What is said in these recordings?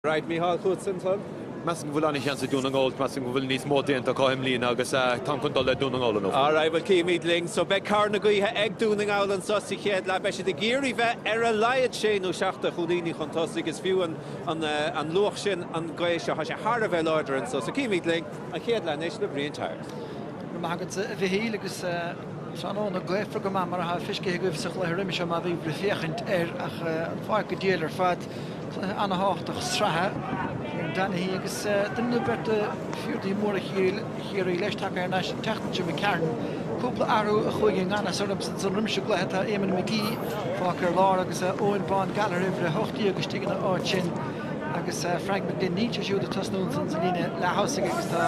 Right, Mícheál, chugat san club. Measaim go bhfuil an-sheans ag Dún na nGall. Measaim go bhfuil níos mó déanta acu i mbliana agus táim chun dul le Dún na nGall inniu. Alright, bhuel cífimid linn. So beidh cabhair na gaoithe ag Dún na nGall anseo sa chéad leath. Beidh siad ag iarraidh bheith ar a laghad sé nó seacht de chúilíní chun tosaigh. Is fiú an luach sin an gaoth seo. Tá sé thar a bheith láidir anseo. So cífimid linn. An chéad leath anois le Brian Tyers. Go raibh maith agat a Mhichíl agus tráthnóna gaofar go maith mar atá feiscithe agaibh sa chluiche roimhe seo má bhí sibh ag féachaint air ach an pháirc go diail ar fad. Cluiche an-thábhachtach sraithe. Kieran Donaghy agus duine nó beirt de phiardaí móra Chiarraí leis tagtha thar n-ais an tseachtain seo, McCarron. Cúpla athrú a chuaigh i ngan fhios ormsa roimis an gcluiche. Tá Eamon McGee fágtha ar lár agus Eoghan Bán Gallagher uimhir a hocht déag istigh ina áit sin agus Frank McGlynn. Níl sé siúd ag tosnú ansan sa líne leath-thosaigh agus tá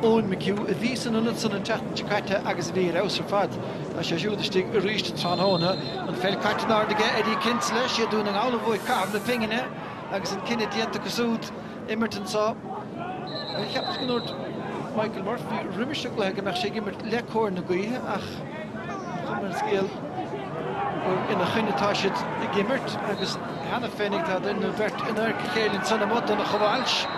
Eoin McHugh, a bhí san ionad san an tseachtain seo caite agus a bhí ar fheabhas ar fad, Tá sé siúd istigh arís tráthnóna. An pheil caite in airde aige, Eddie Kinsella. 'Siad Dún na nGall a bhuaigh caitheamh na pingine agus an cinneadh déanta acu súd imirt anseo. Cheapas go ndúirt Michael Murphy roimis an gcluiche go mbeadh sé ag imirt le cóir na gaoithe ach an chuma ar an scéal gur ina choinne atá siad ag imirt agus cheana féinig tá duine nó beirt in adharca a chéile ansan amuigh, Donncha Walsh ag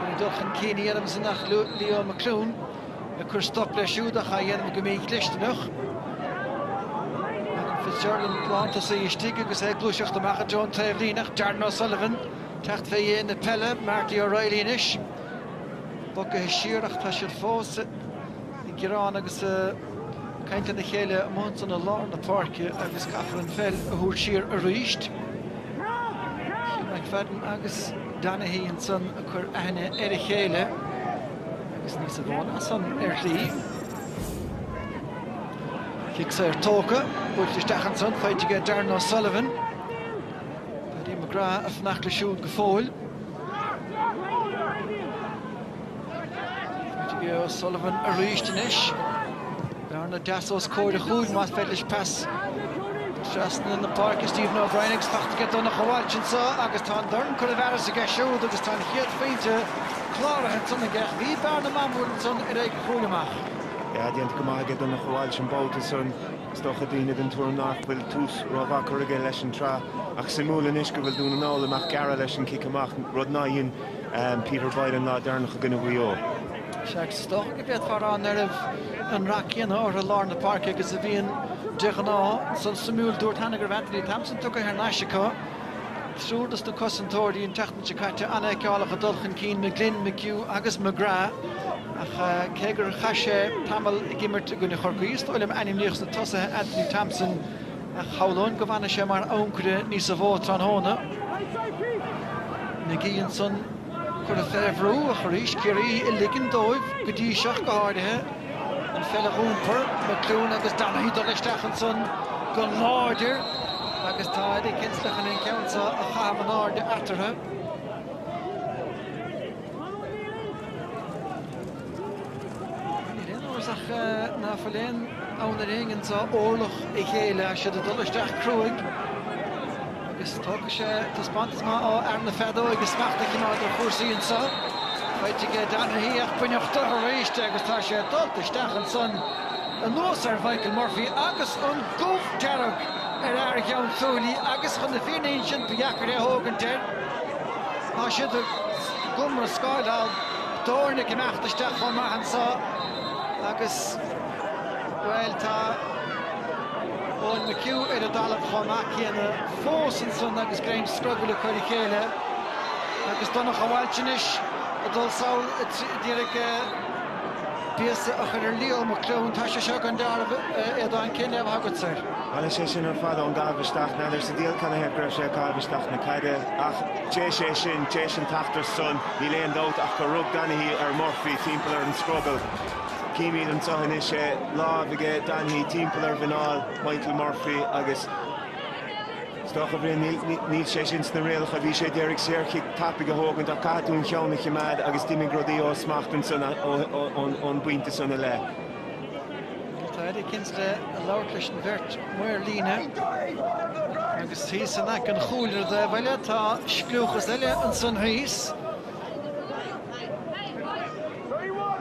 iarraidh dul chun cinn a dhéanamh ansan ach Leo McLoone. ag cur stop leis siúd ach á dhéanamh go mídhlisteanach. Alan Fitzgerald an lántosaí istigh agus é ag gluaiseacht amach i dtreo an taobhlíne ach Darren O'Sullivan teacht fé dhéin na peile. Marty O'Reilly anois. Bogaithe siar ach tá siad fós ag gearán agus caint lena chéile amuigh ansan i lár na páirce agus caithfear an pheil a thabhairt siar arís. Chím McFadden agus Donaghy ansan ag cur aithne ar a chéile. agus níos amháin as san ar shlí. Cic saor tógtha, buailte isteach ansan, faighte aige Darren O'Sullivan. Paddy McGrath ag fanacht leis siúd go fóill. Faighte aige O'Sullivan arís anois. Bearna deas os comhair an chúil, más féidir leis pas trasna na páirce. Stephen O'Brien ag teacht aige Donncha Walsh anseo agus tá an dorn curtha i bhfearas aige siúd agus tá an chéad phointe cláraithe ansan aige. Bhí bearna maith mór ansan ar aghaidh an chúil amach. Jab déanta go maith aige Donncha Walsh an babhta san. Is dócha daoine den tuairim ná fuil tús ró mhaith curtha aige leis an tsraith ach suimiúil anois go bhfuil Dún na nGall ag imeacht gearra leis an cic amach, rud ná dhein Peter Boyle an lá deireanach i gcoinne Mhaigh Eo. sé agus is dócha go bhféadfá a rá ná raibh an rath céanna orthu i lár na páirce agus a bhíonn de ghnáth. Sin suimiúil. Dúrt cheana go raibh Anthony Thompson tugtha thar n-ais acu. Triúr dos na cosantóirí an tseachtain seo caite an-fheiceálach ag dul chun cinn McGlynn, McHugh agus McGrath ach cé gur chaith sé tamall ag imirt i gcoinne Chorcaí is dóigh liom ainmníodh sna tosaithe Anthony Thompson ach shamhlóinn go bhfanfaidh sé mar ancaire níosa mhó tráthnóna. McGee ansan. Curtha fé bhrú ach arís Ciarraí ag ligean dóibh go dtí seo go háirithe an pheil a dh'iompar, McLoone agus Donaghy dul isteach ansan go láidir agus tá Eddie Kinsella chun an ceann seo a chaitheamh in airde eatarthu. Níl aon amhras ach ná fuil aon fhonn ar éinne anso órlach a ghéilleadh. Tá siad ag dul isteach cruaidh agus tógfaidh sé taispeántas maith ó fhear na feadóige smacht a choimeád ar chúrsaí anseo. Faighte aige Donaghy ach baineadh de arís agus tá sé dulta isteach ansan anuas ar Mhichael Murphy agus an gomh dearg ar fhear Ghleann tSúilí agus chun na fírinne a insint ba dheacair é a thógaint air. Tá siad ag iomrascáil ann. d'fhoirne ag imeacht isteach chomh maith anseo agus, bhuel, tá Eoin McHugh ar an dtalamh chomh maith céanna fós ansan agus greim scrogaill acu ar a chéile agus Donncha Walsh anois ag dul sall d'iarraidh píosa a chur ar Leo McLoone. Tá sé seo gan dealramh, a Aodáin, cén léamh atá agatsa air? Bhuel, is é sin ar fad ón gcaitheamh isteach, n'fheadar sa diabhal canathaobh go raibh sé ag caitheamh isteach na caide ach, Tar éis é sin, tar éis an t-eachtra san. Níl aon dabht ach gur rug Donaghy ar Murphy timpeall ar an scrogall. Címid anseo anois é, lámh aige Donaghy timpeall ar mhuineál Michael Murphy agus is dócha níl sé sin sna rialacha. Bhí sé ag iarraidh saorchic tapaidh a thógaint ach caithfidh tú do cheann a chimeád agus d'imigh rudaí ó smacht ansan ón bpointe san i leith. Tá Eddie Kinsella ag labhairt leis an bheirt maor líne agus thíos in aice an chúil ar an dtaobh eile tá scliúchas eile ansan thíos.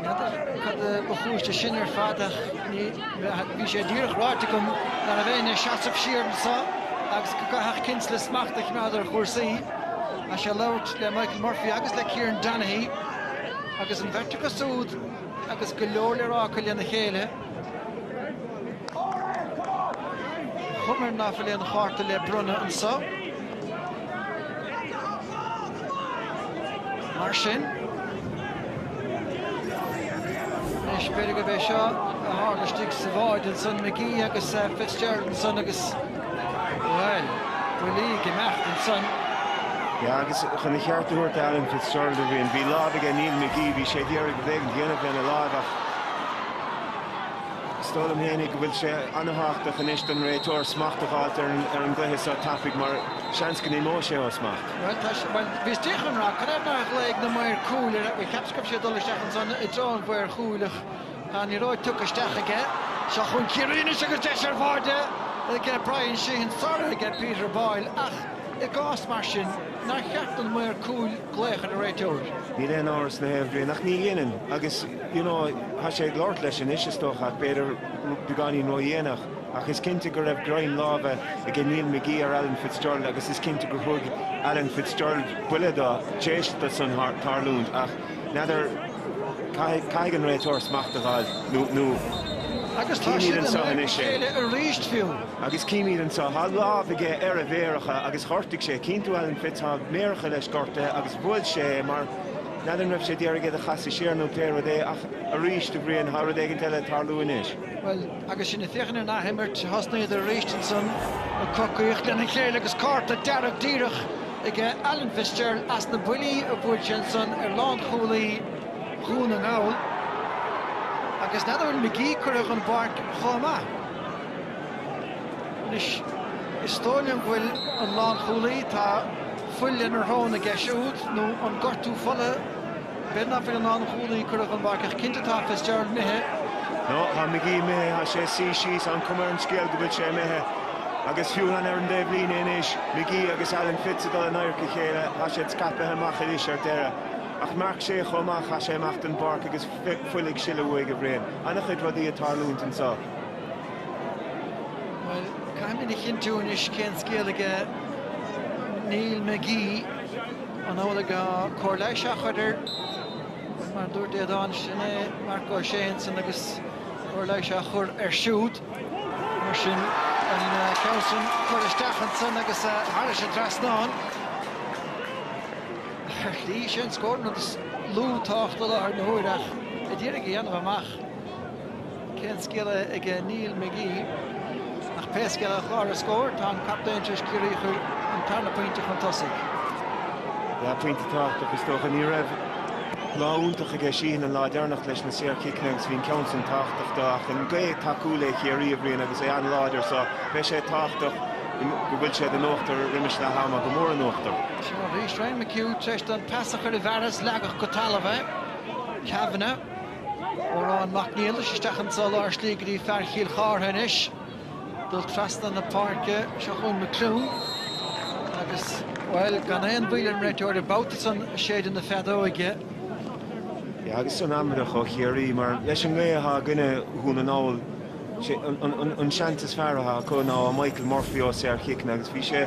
Cad a ba chúis de sin ar fad ach bhí sé díreach ráite agam ná beadh aon seasamh siar anso agus go gcaithfeadh Kinsella smacht a choimeád ar chúrsaí. Tá sé ag labhairt le Michael Murphy agus le Kieran Donaghy agus an bheirt acu súd agus go leor le rá acu lena chéile. Cuma air ná fuil aon chárta le bronnadh anseo. Mar sin. Anois, b'fhéidir gurb é seo a tharla istigh sa bhád ansan, McGee agus Fitzgerald ansan agus. Bhuel, uilig imeacht ansan. Yeah, agus chun a cheart a thabhairt d'Alan Fitzgerald a Bhriain, bhí lámh aige Neil McGee, bhí sé ag iarraidh rud éigin a dhéanamh lena láimh ach is dóigh liom fhéinig go bhfuil sé an-thábhachtach anois don réiteoir smacht a fháilt ar an ar an gcluiche so tapaidh mar seans go n-imeoidh sé ó smacht. Bhuel, tá sé, bhuel, bhí Steve Conroy, cad é mar a ghlaoigh na maoir cúil ar a, bhuel, cheap sé go raibh sé ag dul isteach ansan i dtreo an mhaoir chúil ach, Tá an liathróid tugtha isteach aige. Seo chun Ciarraí anois agus deis ar bháide ag Bryan Sheehan sara ag Peter Boyle ach i gcás mar sin nár cheart don maor cúil glaoch ar an réiteoir? Níl aon amhras ná é, a Bhriain, ach ní dhéanann agus you know tá sé ag labhairt leis anois is dócha ach b'fhéidir beagáinín ró-dhéanach ach is cinnte go raibh greim láimhe ag Neil McGee ar Alan Fitzgerald agus is cinnte gur thug Alan Fitzgerald buille dó tar éis dó san tarlúint ach N'fheadar. Caithfidh an réiteoir smacht a dh'fháil nó. Agus tá siad in aghaidh a chéile arís fiú! Agus cím iad anseo. Tá lámh aige ar a mhéaracha agus ghortaigh sé. Cíonn tú Alan Fitz. Tá a mhéaracha leis gortaithe agus bhuail sé é mar. N'fheadar an raibh sé ag iarraidh iad a chasadh siar nó pé rud é ach arís a Bhriain, tá rud éigint eile ag tarlú anois. Agus sinn ag féachaint ar an athimirt, thosnaíodar arís ansan, ag coraíocht lena chéile agus cárta dearg díreach ag Alan Fitzgerald as na buillí a bhuail sé ansan ar lánchúlaí Dhún na nGall. Agus n'fheadar an bhfuil McGee curtha den bpáirc chomh maith? Anois, is dóigh liom go bhfuil an lánchúlaí, tá fuil lena shrón aige siúd nó an gortú fola, N'fheadar an bhfuil an lánchúlaí curtha den bpáirc ach cinnte tá Fitzgerald imithe. No, tá McGee imithe, tá sé suí síos, tá an cuma ar an scéal go bhfuil sé imithe. Agus fiú amháin ar an dtaobh líne anois, McGee agus Alan Fitz ag dul in adharca a chéile, tá siad scaipthe amach anois ar deireadh. Ach Marc Ó Sé chomh maith, tá sé ag imeacht den bpáirc agus fuil ag sileadh uaidh a Bhriain. An-chuid rudaí ag tarlúint anseo. Bhuel, caithfidh muid a chinntiú anois cén scéal aige Neil McGee. An bhfuil cóir leighis á chur air mar a dúirt Aodán sin é Marc Ó Sé ansin agus cóir leighis á chur air siúd mar sin an ceann sin curtha isteach ansin agus thairis an trasnán ar shlí sé an scór an rud is lú tábhacht i láthair na huaire ach a d'iarraidh a dhéanamh amach. Cén scéal aige Neil McGee? Ach pé scéal é, ar chlár na scór, tá an captaen tar éis Ciarraí a chur an tarna pointe chun tosaigh. Yeah, pointe tábhachtach is dócha. Ní raibh lá iontach aige Sheehan an lá deireanach leis na saorchiceanna agus bhí an ceann sin tábhachtach do ach an gaoth ag tacú le Ciarraí, a Bhriain, agus é an-láidir so beidh sé tábhachtach go bhfuil siad in uachtar roimis leath ama, go mór in uachtar. Seo arís Ryan McHugh tar éis don pas a chur i bhfearas, leagadh go talamh é. Kavanagh. Odhrán Mac Niallais isteach in sa lár slí go dtí fear Chill Chartha anois. Dul trasna na páirce, seo chugainn McHugh agus, bhuel, gan aon mhoill ar an réiteoir an babhta san séideadh na feadóige. Agus san amaideach ó Chiarraí, mar leis an ngaoth atá i gcoinne Dhún na nGall. sé an seans is fearr atá acu ná Michael Murphy ó shaorchiceanna agus bhí sé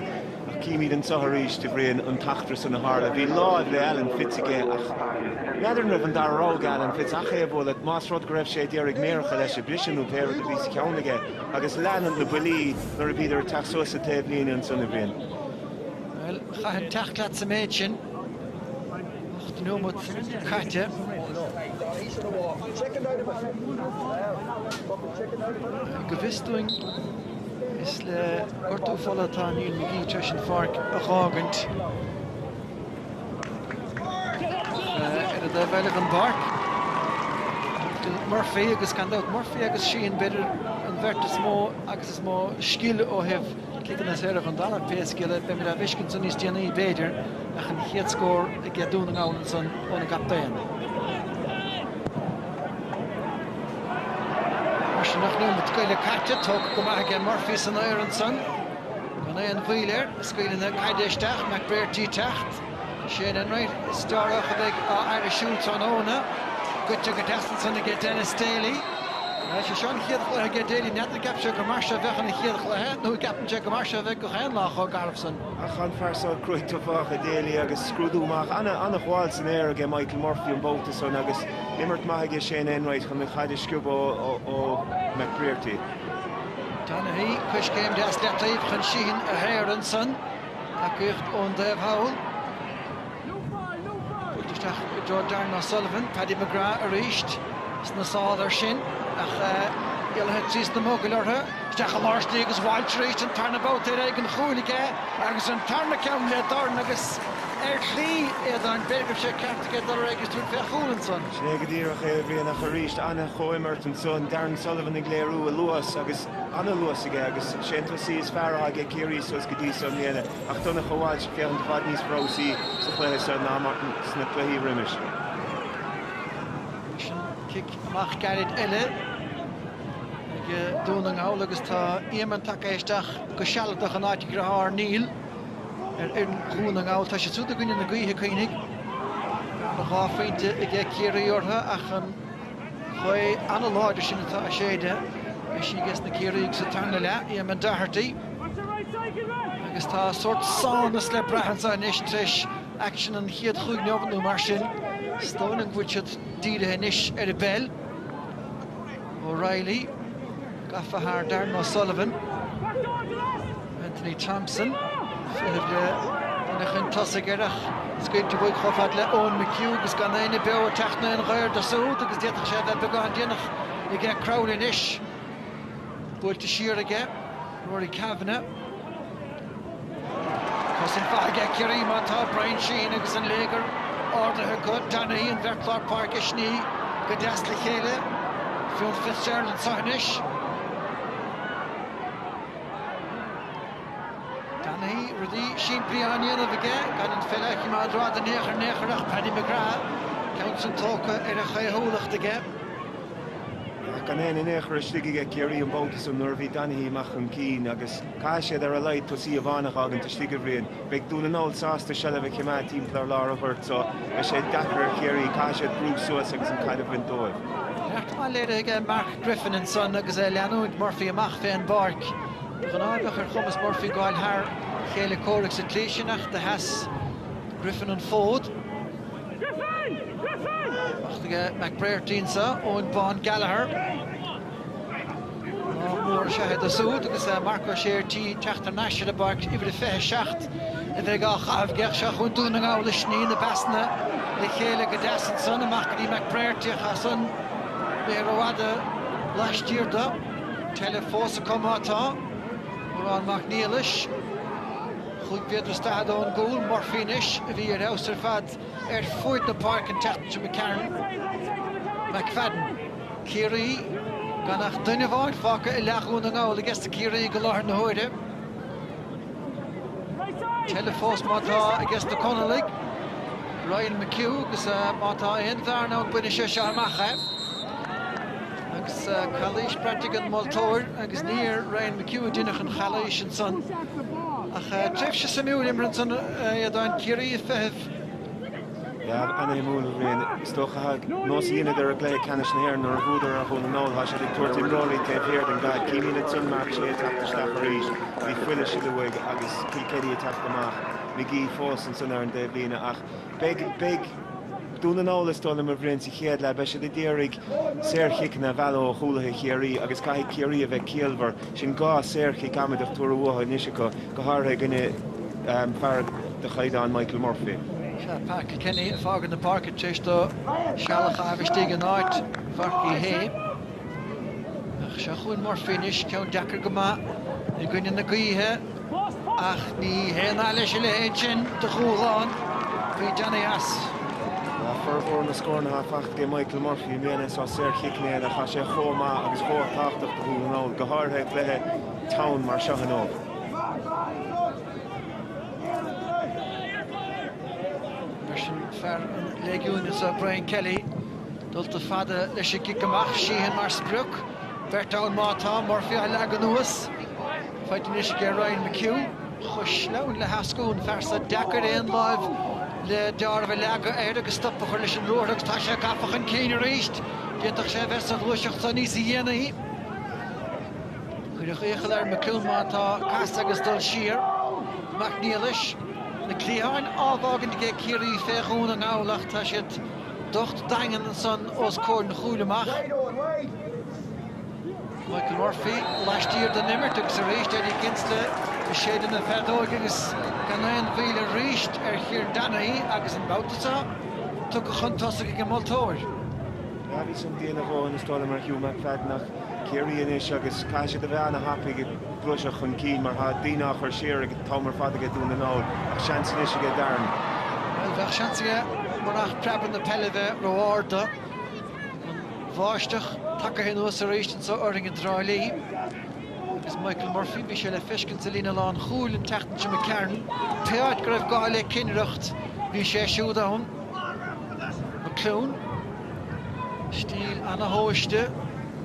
ach címid anso arís a Bhriain an t-eachtra san a tharla. Bhí láimh le Alan Fitz aige ach n'fheadar an raibh an dara rogha ag Alan Fitz ach é a bhualadh más rud go raibh sé ag iarraidh méaracha leis a bhriseadh nó pé rud a bhí sa cheann aige agus lean na buillí nuair a bhíodar ag teacht suas sa taobhlíne ansan a Bhriain. Bhuel, chaithfinn teacht leat sa méid sin. Ocht nóimeat caite. Go bhfios dúinn is le gortú fola atá Neil McGee tar éis an pháirc a dh'fhágaint. Ar an dtaobh eile den bpáirc tá Murphy agus gan dabht Murphy agus Sheehan b'fhéidir an bheirt is mó agus is mó scil ó thaobh Ciceanna saora chun Domhnach, pé scéal é, beimid á bhfeiscint san níos déanaí b'fhéidir ach an chéad scór aige Dún na nGall ansan óna gcaptaen. Mar sin ocht nóimeat go leith caite, tógtha go maith aige Murphy san aer ansan. Gan aon mhoill air, ag scaoileadh na caide isteach, McBrearty ag teacht. Shane Enright, is dócha a bheidh á fhaire siúd tráthnóna. Gaibhte go deas ansan aige Denis Daly. Is é seo an chéad chluiche aige Daly. N'fheadar an gceapfadh sé gur mar seo a bheadh ina chéad chluiche nó an gceapann sé gur mar seo a bheidh gach aon lá chomh garbh san. Ach an fear seo cruaidh tathagach é Daly agus scrúdú maith an-ghabháil san aer aige Michael Murphy an babhta san agus imirt maith aige Shane Enright chun an chaid a sciobadh ó McBrearty. Donaghy, coiscéim deas i leataobh chun Sheehan a shaoradh ansan. Tacaíocht ón dtaobh thall. Faighte isteach i dtreo Darren O'Sullivan. Paddy McGrath arís sna sála air sin ach éalaithe trí sna mogaill orthu. Isteach i lár slí agus Walsh arís an tarna babhta ar aghaidh an chúil aige agus an tarna ceann le Darren agus ar shlí éigin b'fhéidir go raibh sé ceart aige dul ar aghaidh agus tabhairt fé chúl ansan. Sin é go díreach é a Bhriain ach arís. An-chomhimirt ansan. Darren Sullivan ag léiriú a luas agus an-luas aige agus sé an tosaí is fearr atá aige Ciarraí suas go dtí so i mbliana ach Donncha Walsh ag féachaint i bhfad níos breabhsaí sa chluiche so ná mar sna cluichí roimis. Anois an cic amach gairid eile aige Dún na nGall agus tá Éamonn tagtha isteach go sealadach in áit a dhritheár Neil ar fhoireann Dhún na nGall. Tá siad súd i gcoinne na gaoithe, cuimhnigh. Tá dhá phointe aige Ciarraí orthu ach an. Gaoth an-láidir sin atá ag séideadh. Beidh sí ages na Ciarraígh sa tarna leath, Éamonn Doherty, agus tá sórt sámhnas le brath anseo anois tar éis aicsean an chéad chúig neomat nó mar sin. Is dóigh liom go bhfuil siad dírithe anois ar an bpeil. O'Reilly gafa thar Darran O'Sullivan. Anthony Thompson, feitheamh le duine chun tosaigh air ach scaoilte uaidh chomh fada le Eoin McHugh agus gan éinne beo ag teacht in aon ghaor dó súd agus d'fhéadfadh sé a bheith beagán déanach aige Crowley anois. Buailte siar aige Rory Kavanagh. Cosaint mhaith aige Ciarraí má tá Bryan Sheehan agus an léigear ardaithe acu. Donaghy, an bheirt lár páirce ag sní go deas le chéile. Fionn Fitzgerald anseo anois. Donaghy, rudaí simplí á ndéanamh aige gan an pheil a choimeád rófhada in aon chor in aon chor ach Paddy McGrath, ceann san tógtha ar a chaothúlacht aige. Ach gan éinne in aon chor istigh aige Ciarraí an babhta san nuair a bhí Donaghy amach chun cinn agus caithfidh siad ar a laghad tosaí amháin a dh'fhágaint istigh, a Bhriain. Beidh Dún na nGall sásta seilbh a choimeád timpeall ar lár an ghoirt so beidh sé deacair ar Chiarraí. Caithfidh siad brú suas agus an caid a bhaint dóibh. Neart maith léirithe ag Mark Griffin ansan agus é ag leanúint Murphy amach fé an bpáirc. De ghnáth bheadh ar chumas Murphy gabháil thar a chéile comhraic sa tslí sin ach do sheas Griffin an fód. Amach chuig McBrearty anso, Eoin Bán Gallagher. Lá mór is ea é dó súd agus Marc Ó Sé ar tí teacht thar n-ais ar an bpáirc, uimhir a 27 a bheidh á chaitheamh aige ach seo chugainn Dún na nGall ag sní na bpasanna le chéile go deas ansan, amach go dtí McBrearty ach san bheith rófhada laistiar do. Tuilleadh fós acu má tá Odhrán Mac Niallais. Chúig mhéadar is daichead ón gcúl, Murphy anois a bhí ar fheabhas ar fad ar fuaid na páirce an tseachtain seo McCarron, McFadden. Ciarraí, gan ach duine amháin fágtha i leath Dhún na nGall ages na Ciarraígh i láthair na huaire. Tuilleadh fós má tá ages na Conallaigh, Ryan McHugh, agus má tá aon bhearna ann bainfidh sé seo amach é. Agus calaois braite ag an moltóir agus ní ar Ryan McHugh a deineadh an chalaois ansan. Ach tréimhse suimiúil imeartha ansan, a Aodáin, Ciarraí ag feitheamh. Leo. An-shuimiúil, a Bhriain, is dócha. Nós a dheineadar i gcluiche ceannais na hÉireann nuair a bhuadar ar Dhún na nGall. Tá siad ag tabhairt imreoirí taobh thiar den gcaid. Chímid ansan Marc Ó Sé ag teacht isteach arís. Bhí fuil ag sileadh uaidh agus Kilkenny ag teacht amach. Magee fós ansan ar an dtaobhlíne ach beidh beidh Dún na nGall is dóigh liom, a Bhriain, sa chéad leath. Beidh siad ag iarraidh saorchiceanna a mhealladh ó chúlaithe Chiarraí agus caithfidh Ciarraí a bheith ciallmhar. Sin dhá shaorchic amaideach tabhartha uathu anois acu, go háirithe i gcoinne fear de chaighdeán Michael Murphy. Seo Pat Kilkenny ag fágaint na páirce tar éis dó seal a chaitheamh istigh in áit Mhark Uí Shé. Ach seo chugainn Murphy anois, ceann deacair go maith i gcoinne na gaoithe. Ach ní haon nath leis a leithéid sin de dhúshlán, bhí Johnny as. Tá formhór na scóranna atá faighte ag Michael Murphy i mbliana as saorchic mar atá sé chomh maith agus chomh tábhachtach do Dhún na nGall, go háirithe i gcluiche teann mar seo inniu. Ansin fear an Léigiúin is ea Brian Kelly. Dulta fada leis an gcic amach, Sheehan mar sprioc. Beirt ann má tá, Murphy á leagan anuas. Faighte anois aige Ryan McHugh. Cosúil le heascú an fear san. Deacair aon lámh le deáramh a leagadh air agus stop a chur leis an ruathar agus tá sé gafa chun cinn arís. D'fhéadfadh sé a bheith sa ghluaiseacht seo níos déanaí. Cuireadh iachall ar McHugh má tá casadh agus dul siar. Mac Niallais, na cliatháin á bhfágaint aige ag Ciarraí fé Dhún na nGall ach tá siad docht daingean ansan os comhair an chúil amach. Michael Murphy laistiar den imirt agus arís Eddie Kinsella i seilbh na feadóige agus gan aon mhoill arís ar Chill Dara í agus an babhta seo tugtha chun tosaigh ag an moltóir. Dhá mhí sula dtéann a dhóthain is dóigh liom ar Hugh McFadden ach Ciarraí anois agus caithfidh siad a bheith an-thapaidh ag gluaiseacht chun cinn mar tá daoine á chur siar ag an t-am ar fad aige Dún na nGall ach seans anois aige Darren. Bhuel, bheadh seans aige murach preab na peile bheith ró-arda. bháisteach tagtha anuas arís anseo orainn i dTrá Lí agus Michael Murphy, bhí sé le feiscint sa líne lánchúil an tseachtain seo caite. Pé áit go raibh gá le cinnireacht, bhí sé siúd ann. McLoone, stíl ana-thomhaiste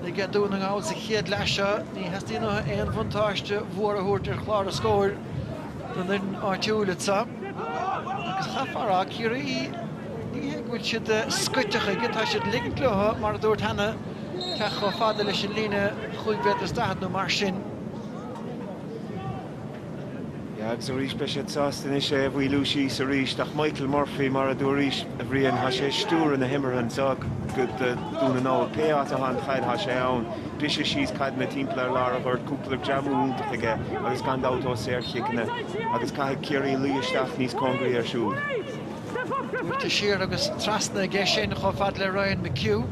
aige Dún na nGall sa chéad leath seo, ní theastaíonn uathu aon bhuntáiste mhór a thabhairt ar chlár na scór don fhoireann áitiúil anseo agus chaithfeá a rá, Ciarraí, Ní hé go bhfuil siad scoite chuige, tá siad ag ligint leo, mar a dúirt cheana, teacht chomh fada leis an líne chúig mhéadar is daichead nó mar sin. Agus arís beidh siad sásta anois é a mhaolú síos arís. Ach Michael Murphy, mar a dúradh arís, a Bhriain, tá sé ag stiúradh na himeartha anseo do Dhún na nGall. Pé áit a bhfuil an chaid tá sé ann. Briseadh síos caideanna timpeall ar lár an ghoirt cúpla greamú iontach aige agus gan dabht ó saorchiceanna. Agus caithfidh Ciarraí luí isteach níos cóngaraí air siúd. Buailte siar agus trasna aige sin chomh fada le Ryan McHugh.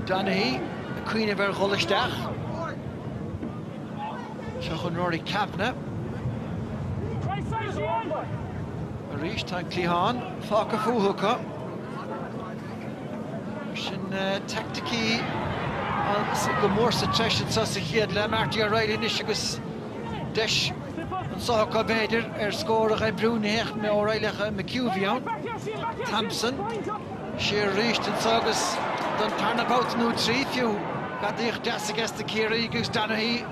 Donaghy ag cuimhneamh ar dhul isteach. Seo chun Rory Kavanagh. Arís tá an cliathán fágtha fúthu acu. Na teaicticí go mór sa treis anseo sa chéad leath. Marty O'Reilly anois agus. Deis anseo acu b'fhéidir ar scór a dh'oibriú, ní hea, ní hé O'Reilly ach McHugh a bhí ann, Thompson. Siar arís anseo agus don tarna babhta nó trí fiú, gadaíocht deas aiges na Ciarraígh agus Donaghy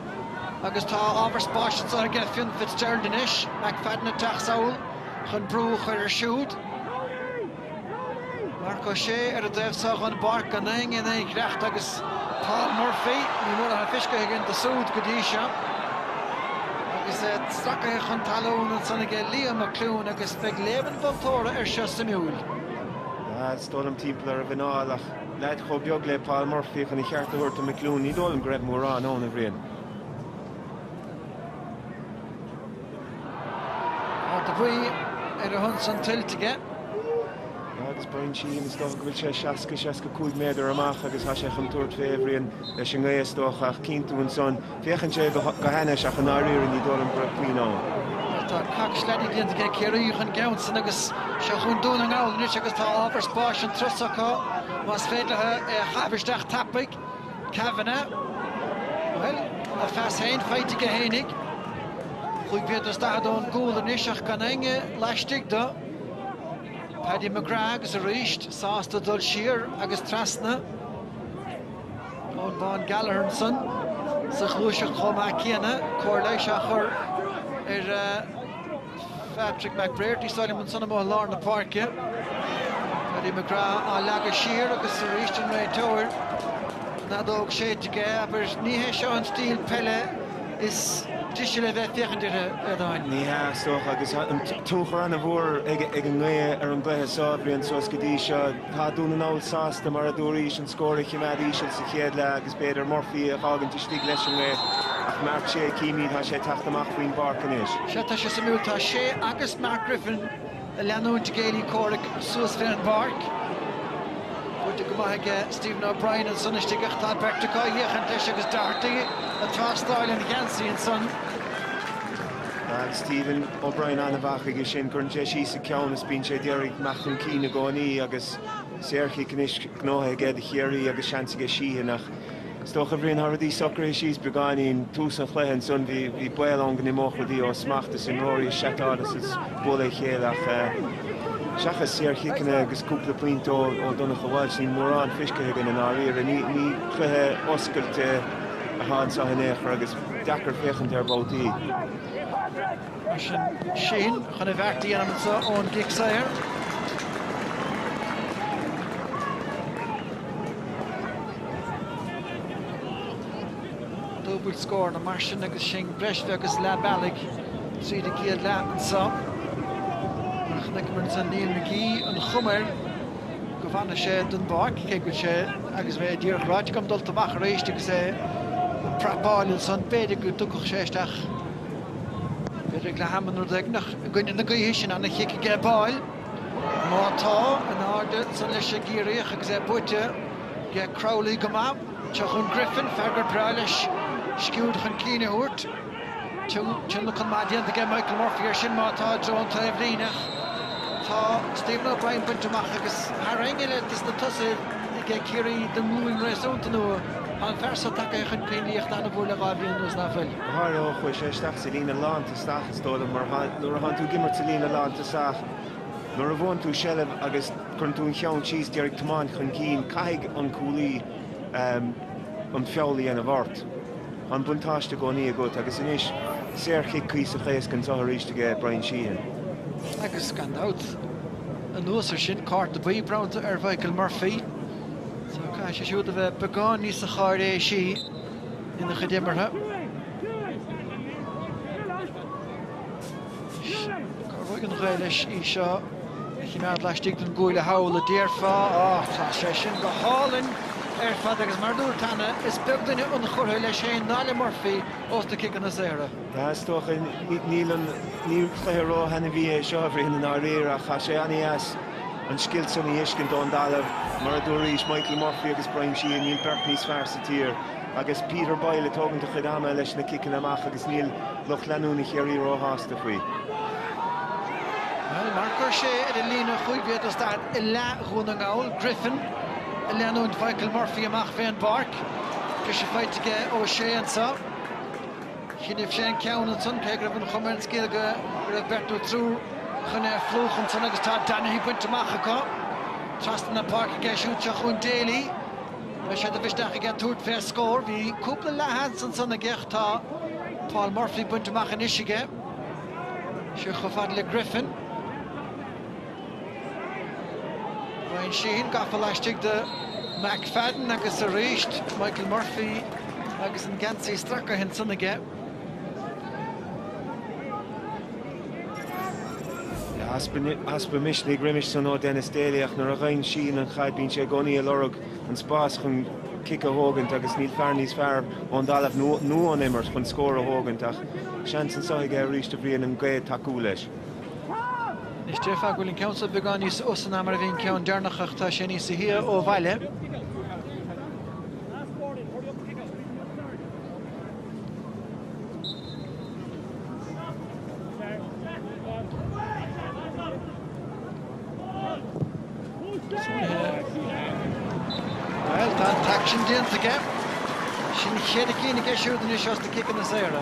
agus tá ábhar spáis anseo aige Fionn Fitzgerald anois, McFadden ag teacht sall chun brú a chur air siúd. Marc Ó Sé ar a dtaobh so dhon bpáirc, gan éinne in aon ghiorracht agus Paul Murphy, ní mór atá feicthe againn dó súd go dtí seo. Agus é stracaithe chun talún ansan aige Leo McLoone agus beidh léamh an mholtóra air seo suimiúil. Bhuel, is dóigh liom timpeall ar a mhuineál ach leaid chomh beag le Paul Murphy chun a cheart a thabhairt do McLoone, ní dóigh liom go raibh mórán ann, a Bhriain. Cárta buí ar a shon san tuillte aige. Agus Bryan Sheehan is dócha go bhfuil sé 60 65 méadar amach agus tá sé chun tabhairt fé, a Bhriain, leis an ngaoth is dócha ach cinntiú ansan. Féachann sé go hainnis ach i ndáiríre ní dóigh liom go raibh puinn ann. Tá cocstí déanta aige Ciarraí dhon gceann san agus seo chun Dún na nGall anois agus tá ábhar spáis anso acu más féidir leo é a chaitheamh isteach tapaidh. Kavanagh, Bhuel, a phas féin faighte aige fhéinig. Chúig mhéadar is daichead ón gcúl anois ach gan éinne laistigh dó. Paddy McGrath agus arís sásta dul siar agus trasna. Eoin Bán Gallagher ansan sa ghluaiseacht chomh maith céanna, comhairle a leasa á chur ar a. Patrick McBrearty, Simon ansin amuigh i lár na páirce. Paddy McGrath á leagadh siar agus arís an réiteoir. An fheadóg séidte aige, abair. Ní hé seo an stíl peile is deise le bheith ag féachaint uirthi, a Aodáin. Ní hea, is dócha, agus tá tionchar an-mhór ag an ngaoth ar an gcluiche seo, a Bhriain, suas go dtí seo. Tá Dún na nGall sásta, mar a dúraís, an scór a choimeád íseal sa chéad leath agus, Is féidir Murphy a dh'fhágaint istigh leis an ngaoth ach Marc Ó Sé, chímid, tá sé ag teacht amach faoin bpáirc anois. Sea, tá sé suimiúil. Tá Ó Sé agus Mark Griffin a' leanúint a gcéilí comhraic suas fé an bpáirc. Buaite go maith aige Stephen O'Brien ansan istigh ach tá beirt acu á fhéachaint leis agus Doherty a' tástáil an gheansaí ansan. Tá Stephen O'Brien an-mhaith chuige sin. Cuireann sé síos a cheann is bíonn sé ag iarraidh imeacht chun cinn i gcónaí agus. Saorchic anois gnóite aige do Chiarraí agus seans aige Sheehan ach is dócha a Bhrian tá rudaí socraithe síos beagáinín. Tús an chluiche ansan bhí baol ann go n-imeodh rudaí ó smacht is imreoirí ag seiceáil is ag bualadh a chéile ach seachas saorchiceanna agus cúpla pointe ó Donncha Walsh níl mórán feiscithe againn i ndáiríre. Ní cluiche oscailte atá anseo in aon chor agus deacair féachaint air babhtaí. Mar sin Sheehan chun a bheart a dhéanamh anseo ón gcic saor. Dúbailt scór mar sin agus sin breis bheag is leath bealaigh tríd an gcéad leath anseo. Mar a chonaiceamar ansan Neil McGee an chuma air go bhfanfaidh sé den bpáirc cé go bhfuil sé agus bheith ag iarraidh a ráite agam dulta amach arís agus é ag prapáil ansan b'fhéidir go dtiocfadh sé isteach. D'éirigh le hEamonn Ó Duibhneach i gcoinne na gaoithe sin, an chic aige ag báil. Má tá, in airde san leis i gCiarraíoch agus é buaite ag Crowley go maith. Seo chughainn Griffin, fear gur breá leis sciúird chun cinn a thabhairt. Tionlacan maith déanta aige Michael Murphy ar sin, má tá, i dtreo an taobhlíne. Tá Stephen O'Brien bainte amach agus fear eile de na tosaithe aige Ciarraí den nglúin réasúnta nua. Tá an fear seo tagtha chun cinn an-mhór le dhá bhliain anuas, nach bhfuil? Go háirithe ó chuaigh sé isteach sa líne lántosach, is dóigh liom, mar nuair a thánn tú ag imirt sa líne lántosach, nuair a bhuann tú seilbh agus cuireann tú an ceann síos, d'iarraidh tiomáint chun cinn, caithfidh an cúlaí an feall a dhéanamh ort. Tá an buntáiste i gcónaí agat agus anois, saorchic cuíosach éasca anseo arís aige Bryan Sheehan. Agus gan dabht, anuas ar sin, cárta buí bronnta ar Mhichael Murphy, so caithfidh sé siúd a bheith beagán níosa cháiréisí. ina chuid imeartha. Cabhróidh an ghaoth leis é seo a chimeád laistigh den gcúl a shamhlófá déarfá, ach tá sé sin go hálainn ar fad agus mar a dúirt Anna, is beag duine ionchurtha leis féin ná le Murphy ós na ciceanna saora. Tá, is dócha. Níl an, ní cluiche ró-thaitneamhach é seo, a Bhriain i ndáiríre, ach tá sé an-deas. An scil sin a fheiscint ón dtalamh. Mar a dúraís Michael Murphy agus Brian Sheehan níl beirt níos fearr sa tír agus Peter Boyle ag tógaint a chuid ama leis na ciceanna amach agus níl lucht leanúna Chiarraí ró-shásta faoi. Bhuel, mar chuir sé ar an líne chúig mhéadar 's daichead i leath Dhún na nGall, Griffin ag leanúint Mhichael Murphy amach fén bpáirc. Briseadh faighte aige O'Shea anseo. Choinnibh sé an ceann ansan cé go raibh an chuma ar an scéal go raibh beirt nó triúr chun é a phlúchadh ansan agus tá Donaghy bainte amach acu. Trasna na páirce aige siúd seo chughainn Daly. Beidh sé de mhisneach aige tabhairt fé scór. Bhí cúpla leathsheans ansan aige ach tá Paul Murphy bainte amach anois aige. Seo chomh fada le Griffin. Brian Sheehan gafa laistigh de McFadden agus arís Michael Murphy agus an geansaí stracaithe ansan aige. Easpa misnigh roimis san ó Denis Daly ach nuair a gheibheann Sheehan an chaid bíonn sé i gconaí ag lorg an spás chun cic a thógaint agus níl fear níos fearr ón dtalamh nó ón imirt chun scór a thógaint ach seans anso aige arís do Bhrian an ghaoth ag tacú leis. Is déarfá go bhfuil an ceann seo beagán níos usa ná mar a bhí an ceann deireanach ach tá sé níos sia ó bhaile. Bhuel tá an t-aicsean déanta aige. Sin an chéad cheann aige siúd anois as na ciceanna saora.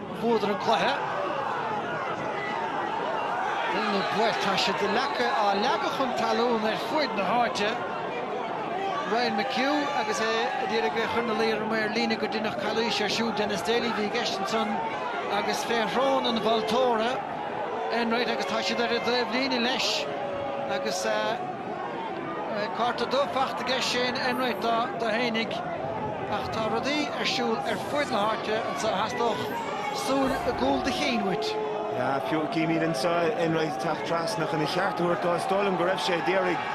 Bhuadar an cluiche. Rinneadh an bheart. Tá siad de leaca á leagadh chun talún ar fuaid na háite. Ryan McHugh agus é ag iarraidh é a chur ina luí ar an maor líne gur deineadh calaois air siúd, Denis Daly a bhí i gceist ansan, agus fé shrón an mholtóra Enright agus tá sé ar an dtaobhlíne leis agus. Cárta dubh fachta aige Shane Enright dó fhéinig ach tá rudaí ar siúl ar fuaid na háite anseo a theastódh súil i gcúl do chinn uait. Fé mar a chímid ansan, Enright ag teacht trasna chun a cheart a thabhairt dó. Is dóigh liom go raibh sé ag iarraidh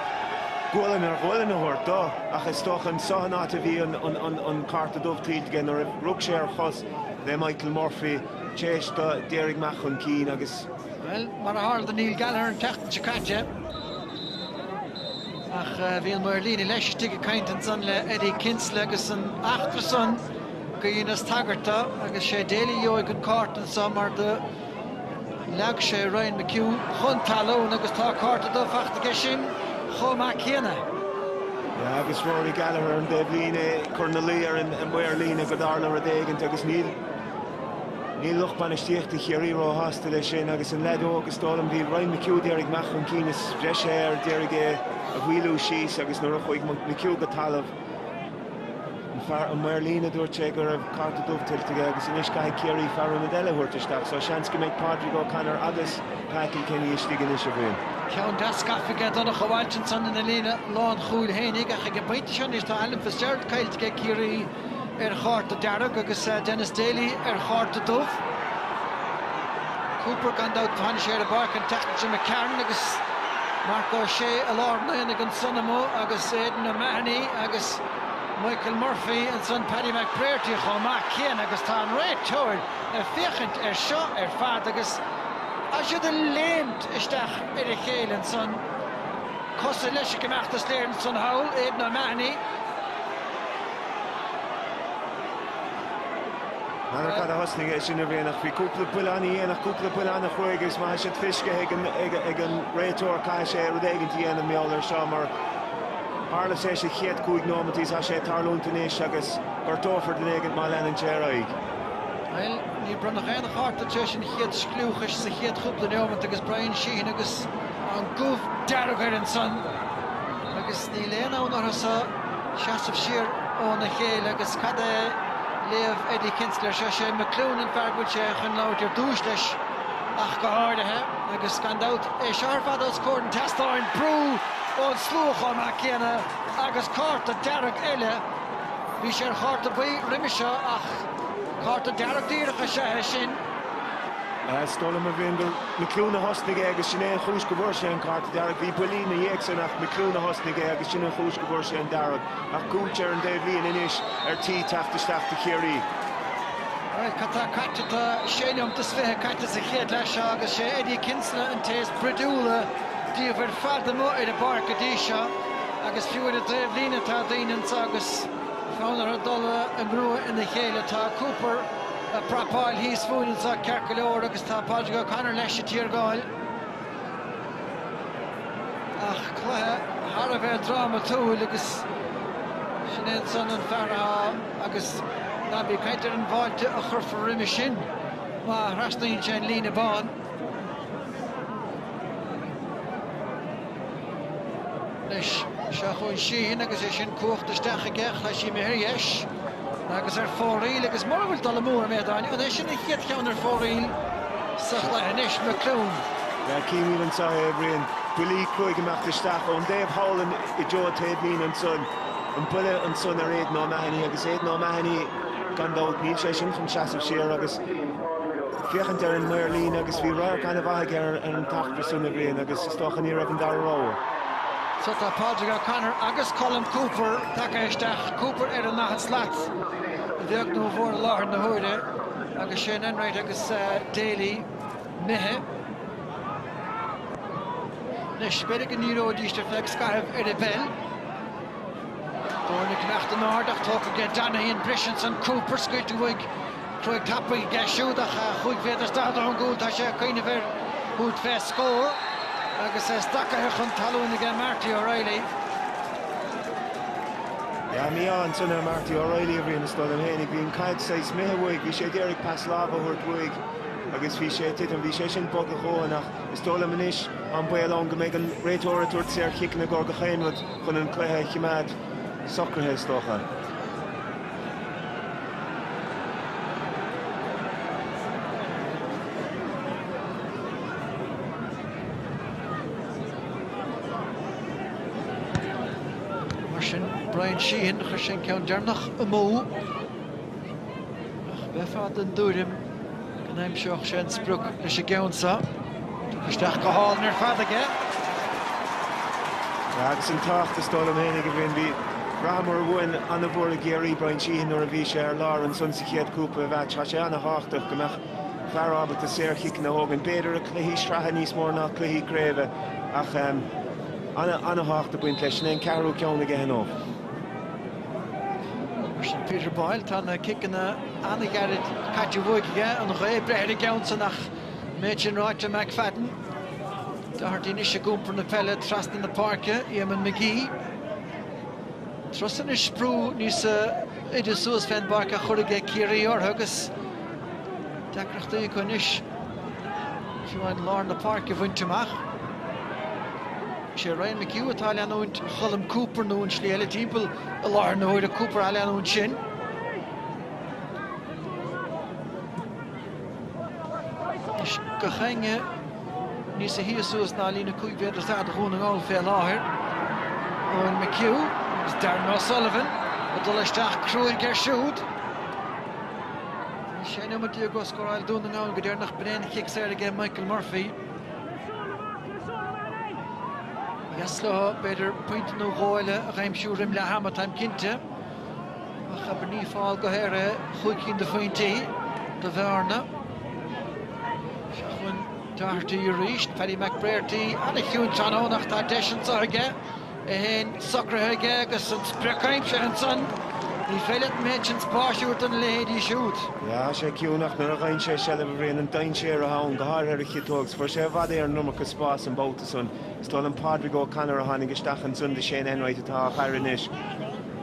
gualainn ar ghualainn a thabhairt dó ach is dócha anseo an áit a bhí an cárta dubh tuillte aige nuair a rug sé ar chosa Michael Murphy tar éis do Derek Mac ón CCC agus Bhuel, mar a tharla do Neil Gallagher an tseachtain seo caite, Ach bhí an maor líne laistigh ag caint ansan le Eddie Kinsella agus san eachtra san go ndeineas tagairt dó agus is é Daly a gheobhaidh an cárta anso mar do leag sé Ryan McHugh chun talún agus tá cárta dubh fachta aige sin chomh maith céanna. Sea agus Rory Gallagher ar an dtaobhlíne ag cur ina luí ar an maor líne gur tharla rud éigint agus níl. Níl lucht bainistíochta Chiarraí róshásta leis sin agus an liathróid is dóigh liom a bhí ag Ryan McHugh d'éirigh maith chun cinn is bhreise air, d'éirigh é a mhaolú síos agus nuair a chuaigh McHugh go talamh an maor líne dúirt sé go raibh cárta dubh tuillte aige agus anois caithfidh Ciarraí fear ionaid eile a thabhairt isteach so seans go mbeidh Pádraig O'Connor agus Pa Kilkenny istigh anois, a Bhriain. Ceann deas gafa ag Donncha Walsh ansan ina líne lánchúil fhéinig ach ag an bpointe seo anois tá Alan Fitzgerald caillte ag Ciarraí, ar chárta dearg agus Denis Daly ar chárta dubh. Cooper gan dabht tháinig sé ar an bpáirc an tseachtain seo caite McCarron agus Marc Ó Sé i lár an aonaigh ansan amuigh agus Aidan O'Mahony agus Michael Murphy ansan Paddy McBrearty chomh maith céanna agus tá an réiteoir ag féachaint air seo ar fad agus tá siad ag léimt isteach ar a chéile ansan. Cosúil leis an gcombeachtas léiríonn san hall Aidan O'Mahony. N'fheadar cad a thosnaigh é sin a Bhriain bhí cúpla buille ana dhéanach cúpla buille ana chruaidh agus má tá siad fiscithe ag an réiteoir caithfidh sé rud éigint a dhéanamh mar gheall air seo mar tharla sé sa chéad chúig nóimintí tá sé ag tarlúint anois agus gortófar duine éigint má leanann sé ar aghaidh. Bhuel níor bronnadh aon chárta tar éis an chéad scliúchais sa chéad chúpla neomant agus Brian Sheehan agus. Tá an gomh dearg air ansan agus níl aon fhonn orthusa seasamh siar óna chéile agus cad é léamh Eddie Kinsella ar seo? Sé McLoone an fear go bhfuil sé chun labhairt ar dtúis leis ach go háirithe agus gan dabht é seo ar fad os comhair an tseastáin. Brú ón slua chomh maith céanna agus cárta dearg eile. Bhí sé ar chárta buí roimhe seo ach cárta dearg díreach is ea é sin. Is dóigh liom, a Bhriain, gur McLoone a thosnaigh é agus sin é an chúis go bhfuair sé an cárta dearg. Bhí buillí ina dhiaidh sin ach McLoone a thosnaigh é agus sin an chúis go bhfuair sé an dearg. Ach Gooch ar an dtaobhlíne anois ar tí teacht isteach do Chiarraí. Bhuel, cad tá caite? Tá sé nóimeat is fiche caite sa chéad leath seo agus sé Eddie Kinsella an té is broidiúla díobh ar fad amuigh ar an bpáirc go dtí seo agus fiú ar an dtaobhlíne tá daoine anseo agus fonn orthu dul i ngruaig a chéile. Tá Cooper. ag prapáil thíos fúinn anseo ceart go leor agus tá Pádraig O'Connor leis ag tiargáil. Ach cluiche thar a bheith drámatúil agus sin é ansan an fear atá agus ná bí ag caint ar an bhfáilte a chuirfear roimis sin má thrasnaíonn sé an líne bán. Anois seo chugainn Sheehan agus é sin cuachta isteach aige, ach tá sé imithe ar dheis agus ar fóraoil agus mura bhfuil dul amú orm Aodáin, an é sin an chéad cheann ar fóraoil sa chluiche anois? McLoone. Bhuel chímid anseo é, a Bhriain. Buillí cúig imeacht isteach ón dtaobh thall in i dtreo an taobh mín ansan. An buille ansan ar Aidan O'Mahony agus Aidan O'Mahony gan dabht, níl sé sin chun seasamh siar agus, féachaint ar an maor líne agus bhí radharc an-mhaith aige ar an tachtadh sin a Bhriain agus is dócha ní raibh an dara rogha. Seo tá Pádraig O'Connor agus Colm Cooper tagtha isteach, Cooper ar an ndaichead slat, a bheag nó a mhór i láthair na huaire agus Shane Enright agus Daly imithe. Anois b'fhéidir go ndíreoidíst ar feadh scaithimh ar a bpeil. Foirne cleachta an-ard ach tógfaidh Donaghy an briseadh ansan, Cooper scaoilte uaidh. Troy tapaidh deis siúd ach chúig mhéadar slat ón gcúl. Tá sé ag cuimhneamh ar chúl bheith scór agus é stracaithe chun talún aige Marty O'Reilly. Tá mianach sona Marty O'Reilly a bhí ina shlodam fhéinig. Bhí an caid saghas imithe uaidh. Bhí sé ag iarraidh pas láimhe a thabhairt uaidh agus bhí sé ag titim. Bhí sé sin bog a dhóthain ach is dóigh liom anois tá an baol ann go mbeidh an réiteoir ag tabhairt saorchiceanna i gcomhair gach aon rud chun an cluiche a chimeád socraithe is dócha. Mar sin, Bryan Sheehan, chuir sé an ceann deireanach amú. Ach bheifeá den dtuairim Go n-aimseodh sé an sprioc leis an gceann seo. Isteach go hálainn ar fad aige. Agus an tábhacht is dóigh liom féin ag an bhFiann, bhí ráchairt mhór a Bhriain an-mhór i gCiarraí Bryan Sheehan nuair a bhí sé ar lár ansan sa chéad chúpla mheáits. Tá sé an-tábhachtach go mbeadh fear ábalta saor-chiceanna a thógaint, b'fhéidir i cluichí sraithe níos mór ná cluichí craoibhe, ach an-tábhacht ag baint leis. Sin é an ceathrú ceann aige nó. Mar sin Peter Boyle, tá na ciceanna an-ghearra caite uaidh aige, an ghaoth breith ar an gceann san ach an méid sin ráite, McFadden, Doherty anois ag iompar na peile trasna na páirce, Éamonn McGee, Tús anois brú níos airde suas fén bpáirc á chur aige Ciarraí orthu agus deacrachtaí acu anois fiú amháin lár na páirce a bhaint amach. Is é Ryan McHugh atá ag leanúint Cholm Cooper nó an tslí eile timpeall i láthair na huaire Cooper á leanúint sin. Is gach éinne níos sia suas ná líne 5 mhéadar istigh do Dhún na nGall fé láthair. Ryan McHugh agus Darren O'Sullivan ag dul isteach cruaidh air siúd. Tá sé nóiméad déag ó scóráil Dún na nGall go deireanach a Bhriain cic saor aige Michael Murphy. Dheas leo b'fhéidir pointe nó dhó eile a aimsiú roim leath ama táim cinnte. Ach abair ní fál go haer é chúig cinn de phointí do bhearna. Seo chugainn Doherty arís, Paddy McBrearty, ana-chiúin tráthnóna ach tá deis anseo aige. 1, socraithe aige agus an sprioc aimsithe ansan, ní féidir leat an méid sin spáis a thabhairt do na leithéidí siúd. Bíonn sé ciúin ach nuair a gheibheann sé seilbh bíonn an dainséar ann, go háirithe ar an chiotóg agus fuair sé i bhfad Éireann an iomarca spáis an babhta san. Is dóigh liom Pádraig Ó Connor a tháinig isteach ansan do Shane Enright atá á fhaire anois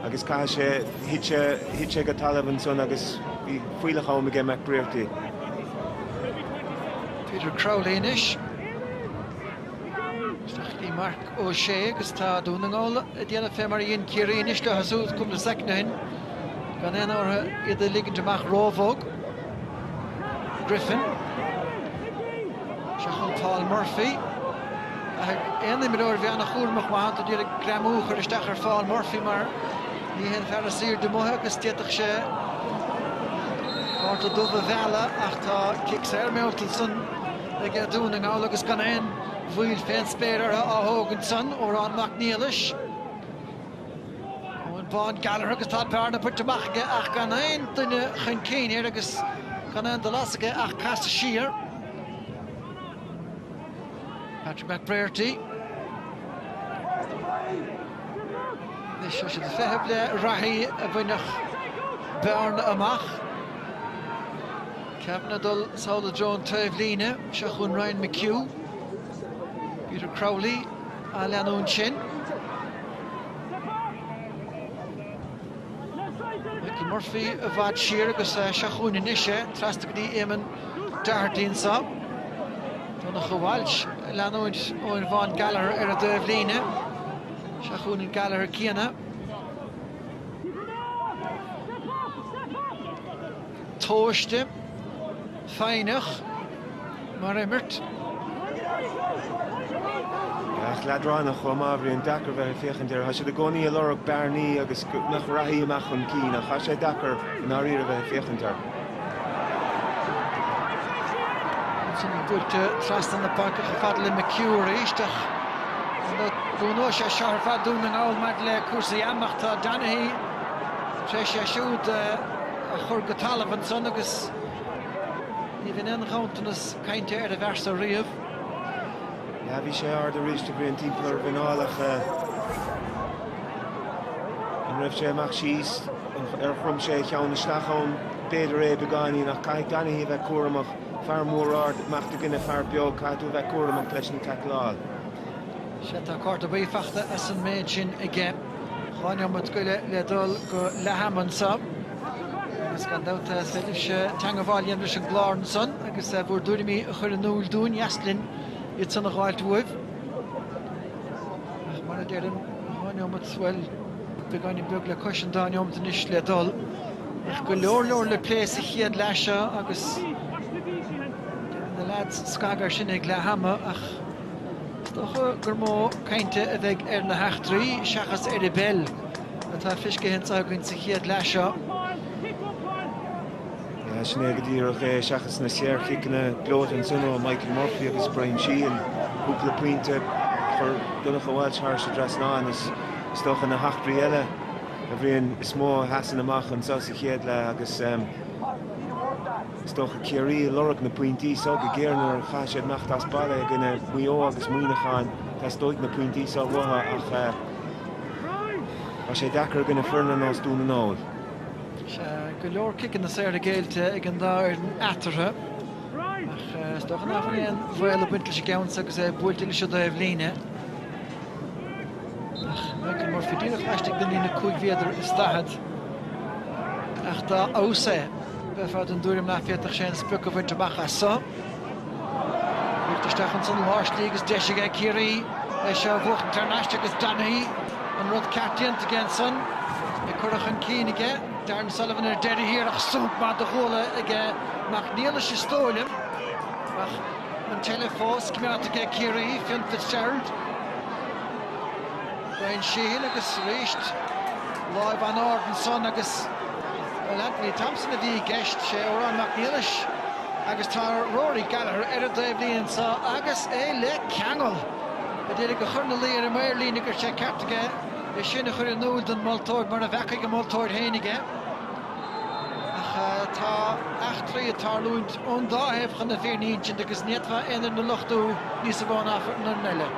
agus caithfidh sé, thit sé, thit sé go talamh ansan agus bhí fuílleach am aige McBrearty. Peter Crowley anois. Isteach go dtí Marc Ó Sé agus tá Dún na nGall ag déanamh fé mar a dhein Ciarraí anois leo siúd cúpla soicind ó shin. Gan aon fhonn orthu iad a ligint amach róbhog. Griffin. Seo chugainn Paul Murphy. Caithfidh aon imreoir bheith ana chúramach má thánn tú d'iarraidh greamú a chur isteach ar Phaul Murphy mar ní hé an fear is airde amuigh agus d'fhéadfadh sé cárta dubh a mhealladh ach tá cic saor meallta ansan aige Dún na nGall agus gan aon mhoill fén spéir orthu á thógaint san, Odhrán Mac Niallais, Eoghan Bán Gallagher agus tá bearna bainte amach aige ach gan aon duine chun cinn air agus gan aon dul as aige ach casadh siar. Patrick McBrearty. Anois tá siad ag feitheamh le reathaí a bhainfeadh bearna amach. Caitheann dul sall i dtreo an taobhlíne seo chugainn Ryan McHugh, Peter Crowley á leanúint ansin. Michael Murphy i bhfad siar agus é seo chugainn anois é trasna go dtí Éamonn Doherty anseo. Donncha Walsh á leanúint, Eoghan Bán Gallagher ar an dtaobhlíne. Seo chugainn an Gallagher céanna. Tomhaiste, foighneach, mar imirt. Ach leadránach chomh maith. Bíonn sé deacair bheith ag féachaint air. Tá siad i gcónaí ag lorg bearnaí agus go mbeadh reathaí amach chun cinn. Ach tá sé deacair i ndáiríre bheith ag féachaint air. Ansin buailte trasna na páirce chomh fada le McHugh arís. Ach an gcónóidh sé seo ar feadh Dún na nGall maidir le cúrsaí ama? Tá Donaghy tar éis é siúd a. a chur go talamh ansan agus ní bhíonn aon ghanntanas cainte ar an bhfear san riamh. Sea, bhí sé ard arís de bhrí an timpeall ar a mhuineál ach an raibh sé amach síos ar chrom sé a cheann isteach ann? B'fhéidir é, beagáinín, ach caithfidh Donaghy a bheith cúramach. Fear mór ard amach i gcoinne fear beag, caithfidh tú a bheith cúramach leis an tacláil. Sea, tá cárta buí fachta as an méid sin aige. Dhá neomat gairid le dul go leath-am anso. Agus gan dabht is féidir libhse teangabháil a dhéanamh leis an gclár ansan agus bhur dtuairimí a chur in iúil dúinn, ba dheas linn iadsan a dh'fháilt uaibh. Ach mar a deirim, dhá neomat, bhuel, beagáinín beag le cois an dá neomat anois le dul. Ach go leor leor le plé sa chéad leath seo agus déanfaidh na leaids scagadh air sin ag leath-am ach, Is dócha gur mó cainte a bheidh ar na heachtraí seachas ar an bpeil atá fiscithe anso againn sa chéad leath seo. Sin é go díreach é seachas na saorchiceanna gleoite ansin ó Michael Murphy agus Brian Sheehan. Cúpla pointe a chuir Donncha Walsh thar an dtrasnán is dócha na heachtraí eile b'fhéidir is mó a sheasann amach anseo sa chéad leath agus. Is dócha Ciarraí ag lorg na pointí seo go géar mar caithfidh siad imeacht as baile i gcoinne Mhaigh Eo agus Mhuineacháin. Teastóidh na pointí seo uathu ach tá sé deacair i gcoinne foirne ar nós Dún na nGall. Tá go leor ciceanna saora géillte ag an dá fhoireann eatarthu ach is dócha nach bhfuil aon bhaol ag baint leis an gceann seo agus é buailte leis an dtaobhlíne. Ach Michael Murphy díreach laistigh den líne cúig mhéadar is daichead ach dá fheabhas é, Bheifeá den dtuairim nach bhféadfadh sé an sprioc a bhaint amach as seo. Uchtach isteach ansan sa tslí agus deis aige Ciarraí leis seo a bhuachtaint thar n-ais agus Donaghy, an rud ceart déanta aige ansan, í curtha chun cinn aige. Darren Sullivan ar deireadh thiar ach sonc maith den ghualainn aige Mac Niallais is dóigh liom. Ach an tseilbh fós, coimeádta aige Ciarraí, Fionn Fitzgerald. Brian Sheehan agus arís láimh an-ard ansan agus bhuel, Anthony Thompson a bhí i gceist, sé Odhrán Mac Niallais agus tá Rory Gallagher ar an dtaobhlíne anso agus é le ceangal! Ag d'iarraidh a chur ina luí ar an maor líne go bhfuil sé ceart aige é sin a chur in iúl don mholtóir mara bhfeacaigh an moltóir féinig é. Ach tá eachtraí ag tarlúint ón dá thaobh chun na fírinne a insint agus ní fhéadfá aon fhoireann a lochtú níos mó ná foireann eile.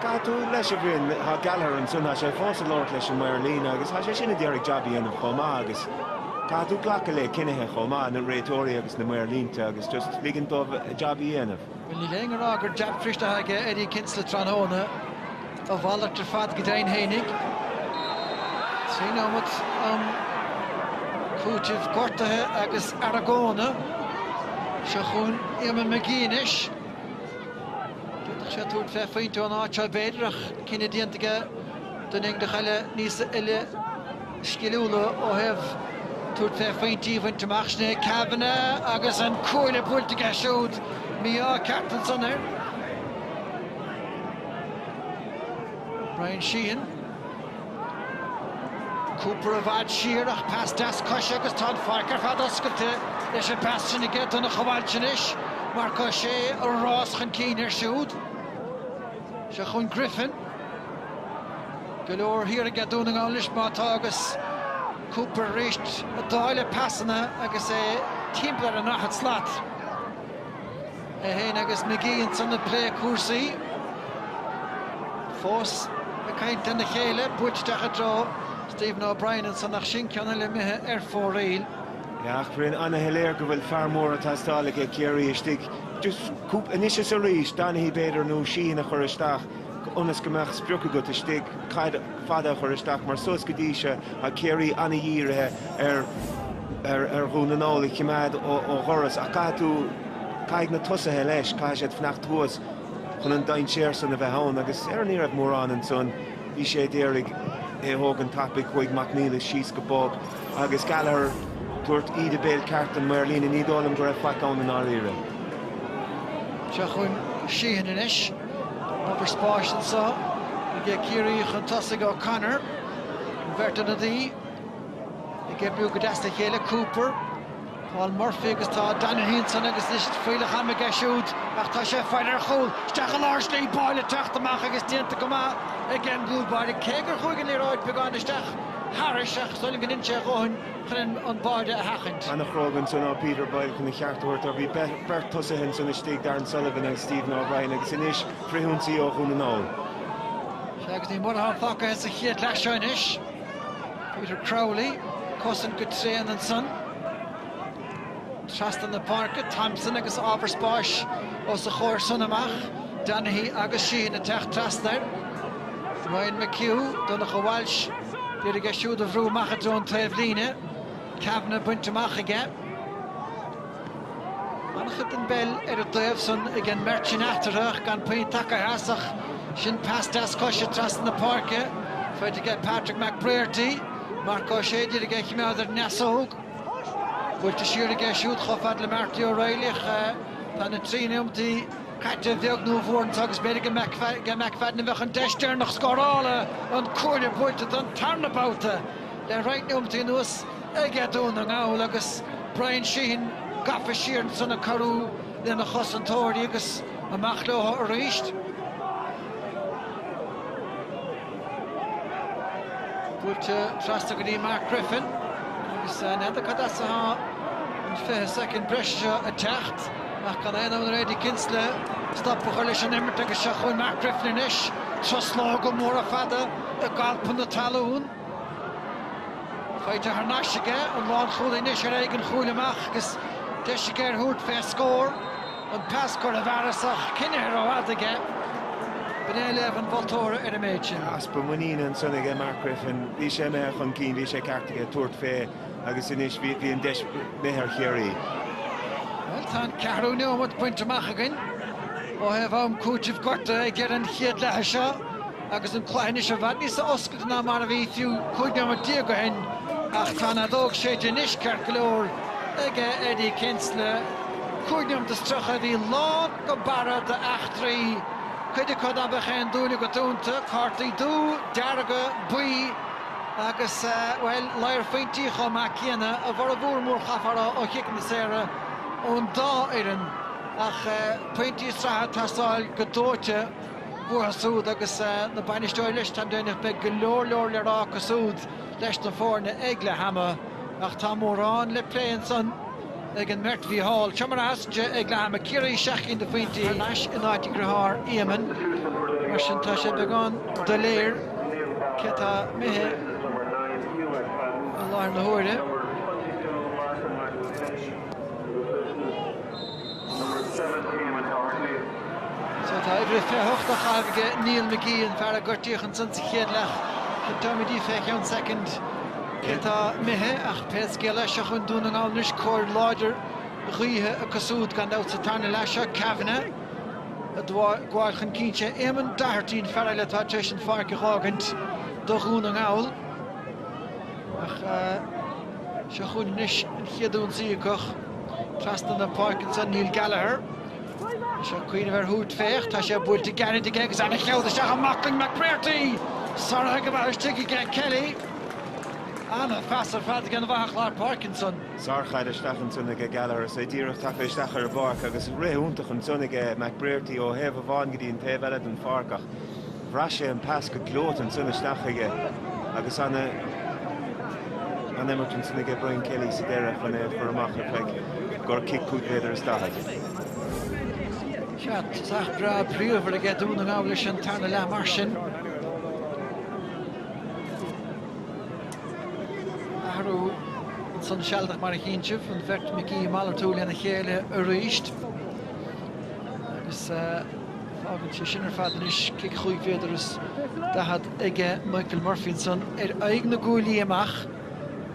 Caithfidh tú leis b'fhéidir, tá Gallagher ansin, tá sé fós ag labhairt leis an maor líne agus tá sé sin ag iarraidh jab a dhéanamh chomh maith agus caithfidh tú glacadh le cinnithe chomh maith, na réiteoirí agus na maor línte agus just ligint dóibh a jab a dhéanamh. Bhuel, níl éinne á rá gur jab fuiriste atá aige Eddie Kinsella tráthnóna. A mhalairt ar fad go deimhin fhéinig. Trí nóimeat i gcúiteamh gortaithe agus argóna. Seo chugainn Éamonn McGee anois. D'fhéadfadh sé tabhairt fé phointe ón áit seo b'fhéidir ach cinneadh déanta aige dul ina choinne don uain seo áirithe. sciliúla ó thaobh tabhairt fé phointí a bhaint amach sin é Kavanagh agus an cuaille buailte aige siúd. Mí-ádh ceart ansan ar Bryan Sheehan. Cooper i bhfad siar ach pas deas coise agus tá an pháirc ar fad oscailte leis an bpas sin aige. Donncha Walsh anois, Marc Ó Sé ag rás chun cinn air siúd. Seo chughainn Griffin. Go leor thiar aige Dún na nGall anois má tá agus Cooper arís ag dáileadh pasanna agus é timpeall ar an ndaichead slat. É fhéin agus Magee ansan ag plé cúrsaí. Fós ag caint lena chéile, buailte isteach i dtreo Stephen O'Brien ansan ach sin ceann eile imithe ar fóraoil. Eachtraíonn ana-shoiléir go bhfuil fear mór ag teastáil aige Ciarraí istigh Anois is arís, Donaghy b'fhéidir, nó Sheehan a chur isteach ionas go mbeadh sprioc agat istigh caid fada a chur isteach mar suas go dtí seo tá Ciarraí an-dhírithe ar Dhún na nGall a choimeád ó dhoras ach caithfidh tú, caithfidh na tosaithe leis, caithfidh siad fanacht thuas chun an dainséar san a bheith ann agus ar ní raibh mórán ansan, bhí sé d'iarraidh é a thógaint tapaidh, chuaigh Mac Niallais síos go bog. agus Gallagher, ag tabhairt íde béil ceart don maor líne, ní dóigh liom go raibh faic ann i ndáiríre. Seo chughainn Sheehan anois. Ábhar spáis anso aige Ciarraí chun tosaigh, O'Connor. An bheirt ionadaí ag oibriú go deas le chéile, Cooper. Paul Murphy agus tá Donaghy ansan agus anois fuíollach ama aige siúd ach tá sé ag faire ar chúl. Isteach i lár slí Boyle ag teacht amach agus déanta go maith ag an gcúl báire cé gur chuaigh an liathróid beagán isteach thairis ach is dóigh liom gur dhein sé a dhóthain chun an báire a sheachaint. An-chróga ansan ó Peter Boyle chun a cheart a thabhairt dó. Bhí beirt tosaithe ansan istigh, Darran Sullivan agus Stephen O'Brien agus anois frithionsaí ó Dhún na nGall. Sea agus ní mór atá fágtha sa chéad leath seo anois. Peter Crowley ag cosaint go tréan ansan. Trasna na páirce, Thompson agus ábhar spáis os a chomhair san amach. Donaghy agus Sheehan ag teacht trasna air. Ryan McHugh, Donncha Walsh, d'iarraidh é siúd a bhrú amach i dtreo an taobhlíne. Kavanagh bainte amach aige. Ana-chuid den bpeil ar an dtaobh san ag an mbeirt sin eatarthu ach gan puinn tagaithe as ach sin pas deas coise trasna na páirce, faighte ag Patrick McBrearty. Marc Ó Sé d'iarraidh é a chimeád ar an ndeasóg. Buailte siar aige siúd chomh fada le Marty O'Reilly ach tá na trí nóimeataí caite a bheag nó a mhór anso agus b'fhéidir gur ag McFadden a bheidh an deis deireanach scórála an cuaille buailte don tarna babhta le roinnt nóimeataí anuas. aige Dún na nGall agus Bryan Sheehan gafa siar ansan ag cabhrú lena chosantóirí agus amach leotha arís. Buailte trasna go dtí Mark Griffin agus n'fheadar cad as atá an 20 soicind breise seo ag teacht ach gan aon fhonn ar Eddie Kinsella stop a chur leis an imirt agus seo chugainn Mark Griffin anois, truslóga móra fada ag alpadh na talún. Faighte thar n-ais aige, an lánchúlaí anois ar aghaidh an chúil amach agus deis aige ar thabhairt fé scór. An pas curtha i bhfearas ach coinnithe rófhada aige. B'in é léamh an mholtóra ar an méid sin. Easpa muiníne ansan aige Mark Griffin. Bhí sé imithe chun cinn, bhí sé ceart aige tabhairt fé agus anois bhí an deis imithe ar Chiarraí. Bhuel, tá an ceathrú neomat bainte amach againn ó thaobh am cúitimh gortaithe ag deireadh an chéad leatha seo. Agus an cluiche anois i bhfad níos oscailte ná mar a bhí fiú 15 nóiméad ó shin ach tá an fheadóg séidte anois ceart go leor ag Eddie Kinsella. Cúig nóiméad is tríocha a bhí lán go barra d'eachtraí, cuid acu ná beadh aon dúil agat iontu, cártaí dubha, dearga, buí agus, bhuel, lear pointí chomh maith céanna, a bhformhór mór chaithfeá a rá, ó chiceanna saora ón dá fhoireann. Ach pointí sraithe ag teastáil go dóite. Uathu siúd agus na bainisteoirí leis, táim deimhneach, beidh go leor leor le rá acu siúd leis na foirne ag leath ama ach tá mórán le plé ansan ag an mbeirt Mhícheál. Seo mar a sheasann sé ag leath ama, Ciarraí 7 gcinn de phointí thar n-ais in áit a dhriothár Éamonn, mar sin tá sé beagán doiléir cé atá imithe i láthair na huaire. Tá uimhir a 28 á chaitheamh aige Neil McGee, an fear a gortaíodh ansan sa chéad leath. Táimidí fé cheann soicind cé atá imithe ach pé scéal é, seo chugainn Dún na nGall anois, cóir láidir ghaoithe acu súd gan dabht sa tarna leath seo. Kavanagh a' gabháil chun cinn. Sé Éamonn Doherty an fear eile atá tar éis an pháirc a dh'fhágaint do Dhún na nGall. Ach seo chugainn anois an chéad ionsaí acu. Trasna na páirce ansan Neil Gallagher. Bhí sé ag cuimhneamh ar thabhairt fé ach, tá sé buailte gairid aige agus an-chaid isteach i mbaclainn McBrearty! Sáraithe go maith istigh aige Kelly. An-phas ar fad ag an bhfathach lár páirce ansan. Sár-chaid isteach ansan aige Gallagher is é díreach tagtha isteach ar an bpáirc agus rith iontach ansan aige McBrearty ó thaobh amháin go dtí an taobh eile den pháirc ach Bhraith sé an pas go gleoite ansan isteach chuige agus an-imirt ansan aige Brian Kelly sa deireadh chun é a chur amach ar feic gur cic cúig mhéadar is daichead. Sea, tosach breá bríomhar aige Dún na nGall leis an tarna leath mar sin. Athrú ansan sealadach mar a chíonn sibh, an bheirt McGee malartú lena chéile arís agus, Fágann sé sin ar fad anois cic chúig mhéadar is daichead ag Michael Murphy ansan ar aghaidh na gcuaillí amach.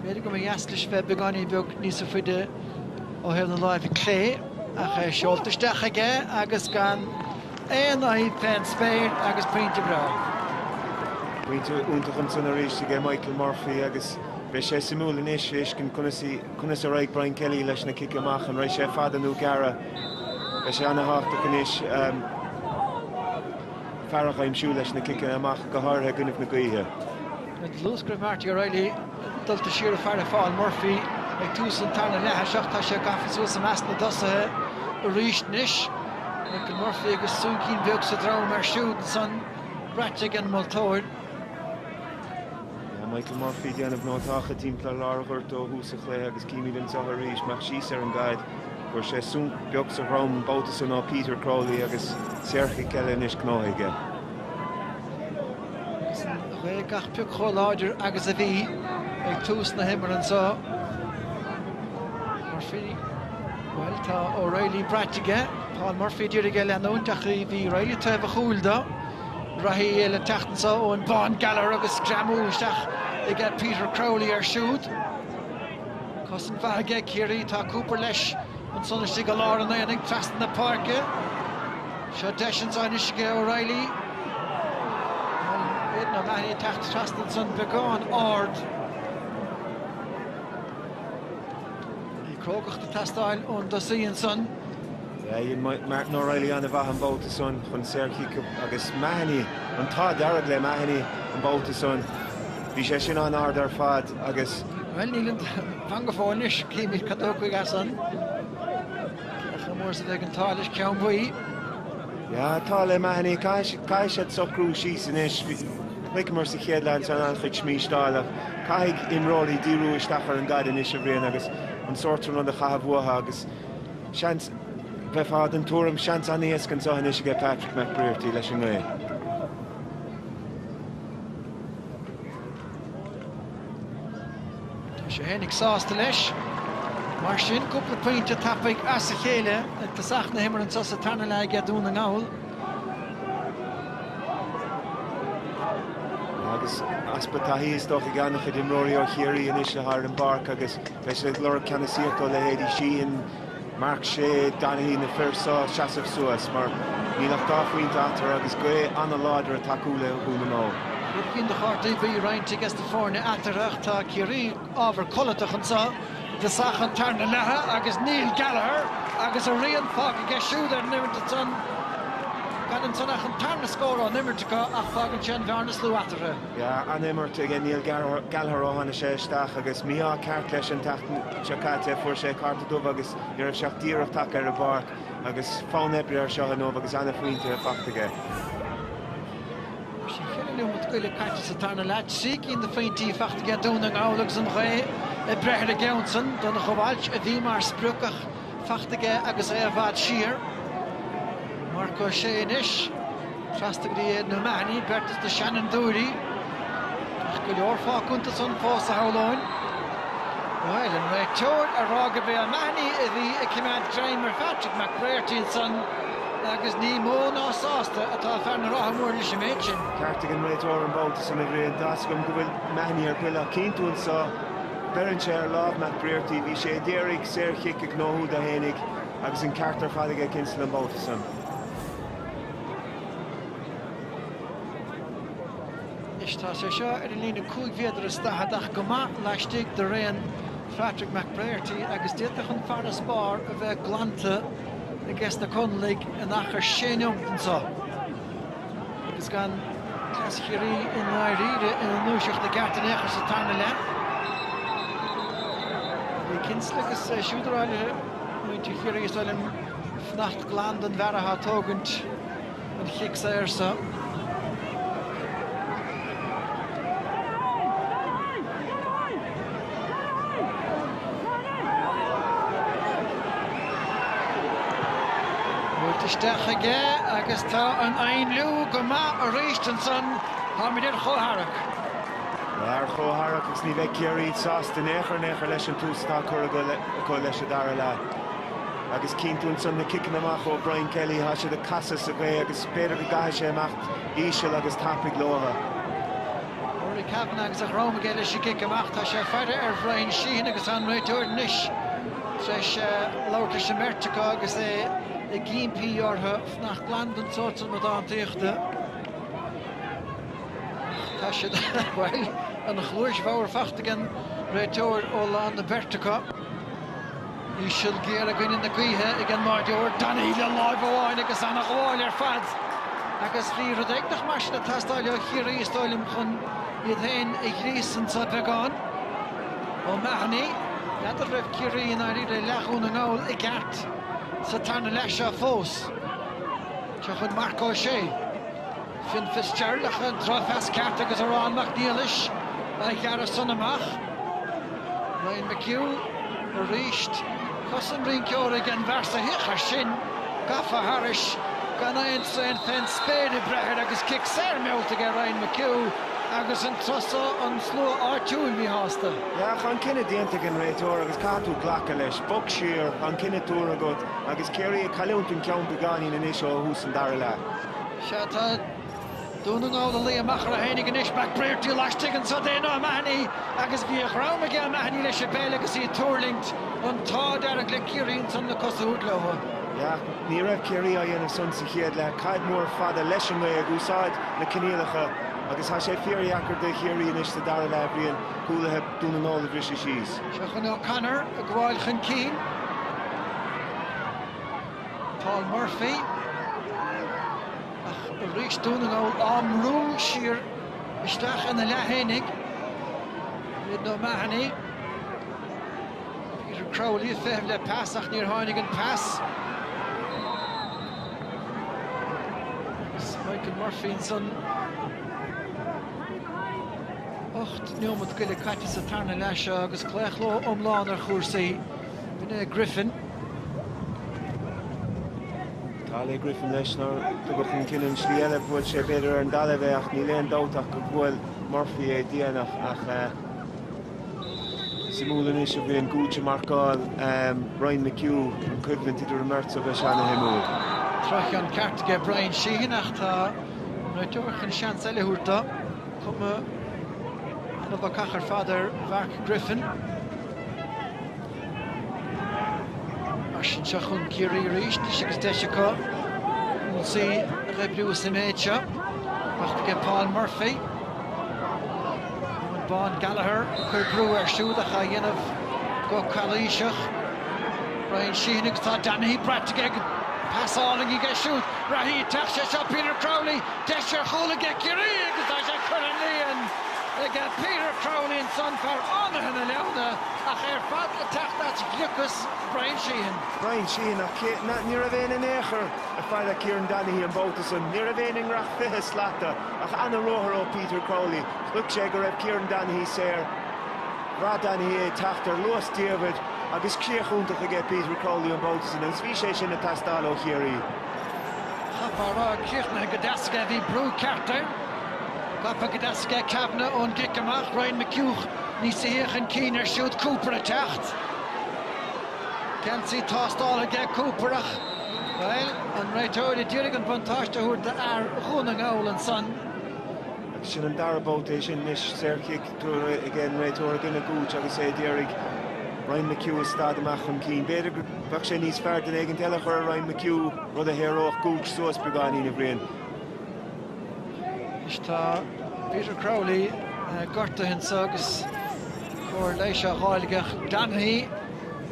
B'fhéidir go mba dheas leis bheith beagáinín beag níosa faide ó thaobh na láimhe clé ach é seolta isteach aige agus gan aon fhadhb fén spéir agus pointe breá. Pointe iontach ansan arís aige Michael Murphy agus beidh sé suimiúil anois a fheiscint conas a raghaidh Brian Kelly leis na cic amach, an raghaidh sé fada nó gearra. Beidh sé an-tábhachtach anois fear a dh'aimsiú leis na ciceanna amach, go háirithe i gcoinnibh na gaoithe. Luas go raibh Marty O'Reilly dulta siar ag faire Phaul Murphy ag tús an tarna leatha seo ach tá sé gafa suas i measc na dtosaithe arís anois. Michael Murphy agus súncín beag sa droim air siúd ansan, braite ag an moltóir. Tá Michael Murphy ag déanamh nótacha timpeall lár an ghoirt ó thús an chluiche agus címid anseo arís amach síos ar an gcaid. Fuair sé súnc beag sa drom an babhta san ó Peter Crowley agus saorchic eile anois gnóthaithe aige. Agus an ghaoth gach pioc chomh láidir agus a bhí ag tús na himeartha anseo. Murphy, bhuel tá O'Reilly braite aige. Paul Murphy ag iarraidh é a leanúint ach bhí Reilly taobh a chúil do. Reathaí eile teacht anso Eoghan Bán Gallagher agus greamú isteach ag Peter Crowley ar siúd. Cosaint mhaith aige Ciarraí, tá Cooper leis ansan istigh i lár an aonaigh trasna na páirce. Seo deis anso anois aige O'Reilly. Aidan O'Mahony teacht trasna ansan beagán ard. Bhí crógacht ag teastáil ón dtosaí ansan. Dhein Martin O'Reilly an-mhaith an babhta san chun saorchic agus Mahony, an t-ádh dearg le Mahony an babhta san, bhí sé sin an-ard ar fad agus. Bhuel, níl an, fan go fóill anois, címid cad a thiocfaidh as san. Cé chomh mór is a bheidh an t-ádh leis? Ceann buí. Tá an t-ádh le Mahony, caithfidh siad socrú síos anois. Chonaiceamar sa chéad leath ansan an-chuid smísteáil ach caithfidh imreoirí díriú isteach ar an gcaid anois, a Bhriain, agus an sórt san rud a chaitheamh uathu agus, Seans, bheifeá den tuairim, seans an-éasca anseo anois aige Patrick McBrearty leis an ngaoth. Tá sé féinig sásta leis. Mar sin, cúpla pointe tapaidh as a chéile ag tosach na himeartha anseo sa tarna leath aige Dún na nGall. Agus easpa taithí is dócha ag an-chuid imreoirí ó Chiarraí anois atá ar an bpáirc agus beidh siad ag lorg ceannasaíocht ó leithéidí Sheehan, Marc Sé, Donaghy, na fir seo seasamh suas mar níl ach dhá phointe eatarthu agus gaoth an-láidir ag tacú le Dún na nGall. Rud éigin do chártaí buí roinnte aiges na foirne eatarthu ach tá Ciarraí, Ábhar codlatach anseo i dtosach an tarna leatha agus Neil Gallagher agus a rian fágtha aige siúd ar an imirt ansan. Gan ansan ach an tarna scór ón imirt acu ach fágann sé an bhearna is lú eatarthu. Yeah, an-imirt ag Neil Gallagher ó tháinig sé isteach agus mí-ádh ceart leis an tseachtain seo caite, fuair sé cárta dubh agus ní raibh sé ach díreach tagtha ar an bpáirc agus fonn oibre air seo inniu agus an-phointe faighte aige. Mar sin cheithre neomat go leith caite sa tarna leath, trí cinn de phointí faighte aige Dún na nGall agus an ghaoth ag breith ar an gceann san. Donncha Walsh a bhí mar sprioc ach faighte aige agus é i bhfad siar. Marc Ó Sé anois trasna go dtí Aidan O'Mahony, beirt as na seanfhondúirí. Ach go leor fágtha iontu san fós a shamhlóinn. Bhuel, an réiteoir ag rá gurb é O'Mahony a bhí ag coimeád greim ar Phatrick McBrearty ansan. agus ní mó ná sásta atá fear na Rátha Móire leis an méid sin. Ceart ag an réiteoir an babhta san a Bhriain. Tá 's agam go bhfuil Mahony ar buile ach cíonn tú anseo, beireann sé ar lámh McBrearty, bhí sé a d'iarraidh saor chic a ghnóthú dó féinig agus an ceart ar fad aige Kinsella an babhta san. Anois tá sé seo ar an líne cúig mhéadar is daichead ach go maith laistigh de raon Phatrick McBrearty agus d'fhéadfadh an farasbarr a bheith glanta. aiges na Conallaigh in achar sé neomat anso agus gan Clas Chiarraí i ndáiríre ina ndúiseacht i gceart in aon chor sa tarna leath. Eddie Kinsella agus é siúd ag rá le muintir Chiarraí is uile fanacht glan don bhfear atá ag tógaint. an chic saor Buailte isteach aige agus tá an ainliú go maith arís ansan. Táimid ar chomhtharrac. Tá ar chomhtharrac agus ní bheidh Ciarraí sásta in aon chor in aon chor leis an tús atá curtha acu leis an dara leath. Agus cinnte ansan na ciceanna amach ó Brian Kelly, tá siad ag casadh sa ghaoth agus b'fhéidir go gcaithfidh sé imeacht íseal agus tapaidh leotha. Rory Kavanagh agus a dhroim aige leis an gcic amach, tá sé ag faire ar Bhrian Sheehan agus tá an réiteoir anois tar éis labhairt leis an mbeirt acu agus é ag impí orthu fanacht glan don tsórt san amadántaíochta. Ach tá siad, bhuel, an chluais bhodhar faighte ag an réiteoir ó lán na beirte acu. Íseal géar i gcoinne na gaoithe ag an mbáireoir Donaghy le láimh amháin agus an-ghabháil ar fad agus bhí rud éigineach mar sin ag teastáil ó Chiarraí is dóigh liom chun iad féin a ghríosadh anseo beagán. O'Mahony, n'fheadar an raibh Ciarraí i ndáiríre i leath Dhún na nGall i gceart sa tarna leath seo fós. Seo chugainn Marc Ó Sé. Fionn Fitzgerald ach an drochphas ceart agus Odhrán Mac Niallais a ghearradh san amach. Ryan McHugh arís. Cosa an rinceora ag an bhfear so féach ansin gafa thairis gan aon seans fén spéir ag breith air agus cic saor meallta aige Ryan McHugh agus an turas so an slua áitiúil míshásta. Tá an cinneadh déanta ag an réiteoir agus caithfidh tú glacadh leis. Bog siar, tá an cinneadh tabhartha agat agus Ciarraí ag cailliúint an ceann beagáinín anois ó thús an dara leath. Sea, tá Dún na nGall ag luí amach orthu fhéinig anois. McBrearty laistigh anseo d'Aidan O'Mahony agus bhí an-ghreim aige O'Mahony leis an bpeil agus í ag tuirlingt. An t-ádh dearg le Ciarraí ansan na cosa a thabhairt leo. Sea, ní raibh Ciarraí á dhéanamh san sa chéad leath. Caid mór fada leis an ngaoth ag úsáid na coinníollacha agus tá sé fíordheacair do Chiarraí anois sa dara leath a Bhriain cúlaithe Dún na nGall a bhriseadh síos. Seo chugainn O'Connor ag gabháil chun cinn. Paul Murphy, ach arís Dún na nGall á mbrú siar isteach ina leath fhéinig. Aidan O'Mahony, Peter Crowley ag feitheamh le pas ach níor tháinig an pas. Michael Murphy ansan. Ocht neomat go leith caite sa tarna leath seo agus claochló iomlán ar chúrsaí. Rinne Griffin. An t-ádh le Griffin leis nár tugadh an cinneadh an tslí eile, bhuail sé b'fhéidir ar an dtalamh é ach níl aon dabht ach go bhuail Murphy é déanach ach suimiúil anois a bhí an Gooch ag marcáil Ryan McHugh, an coimhlint idir an mbeirt beidh an-shuimiúil. Drochcheann ceart aige Bryan Sheehan ach tá an réiteoir chun seans eile a thabhairt dó cuma an-bhacach ar fad ar Mhark Griffin. Mar sin seo chugainn Ciarraí arís, deis agus deis acu ionsaí a dh'oibriú sa méid seo. Bac aige Paul Murphy. Eoin Bán Gallagher ag cur brú air siúd ach á dhéanamh go calaoiseach. Bryan Sheehan agus tá Donaghy braite aige agus pas álainn aige siúd. Raghaidh ag teacht sé seo Peter Crowley, deis ar chúl aige Ciarraí agus tá sé curtha sa líon. ag Peter Crowley ansan fear Fhánaithe na Leamhna ach ar fad ag teacht as gliocas Bryan Sheehan. Bryan Sheehan ach ní raibh éinne in aon chor ag faire Kieran Donaghy an babhta san. Ní raibh éinne i ngiorracht fiche slata ach ana ruathar ó Peter Crowley. Chonaic sé go raibh Kieran Donaghy saor. Bhraith Donaghy é teacht ar luas taobh leis agus críoch iontach aige Peter Crowley an babhta san agus bhí sé sin ag teastáil ó Chiarraí. Chaithfeá a rá ag críochnaithe go deas aige bhí brú ceart air. Gafa go deas aige Kavanagh ón gcic amach, Ryan McHugh níos sia chun cinn air siúd, Cooper ag teacht. Geansaí tástáltha aige Cooper ach, bhuel, an réiteoir a d'iarraidh an buntáiste a thabhairt do fhear Dhún na nGall ansan. Agus sin an dara babhta é sin anois, saorchic tabhartha aige an réiteoir i gcoinne Gooch agus é a d'iarraidh Ryan McHugh a stad amach chun cinn. B'fhéidir go mbeadh sé níos fearr duine éigin eile a chur ar Ryan McHugh, rud a shaoródh Gooch suas beagáinín, a Bhriain. Anois tá Peter Crowley gortaithe ansan agus cóir leighis á fháil. Donaghy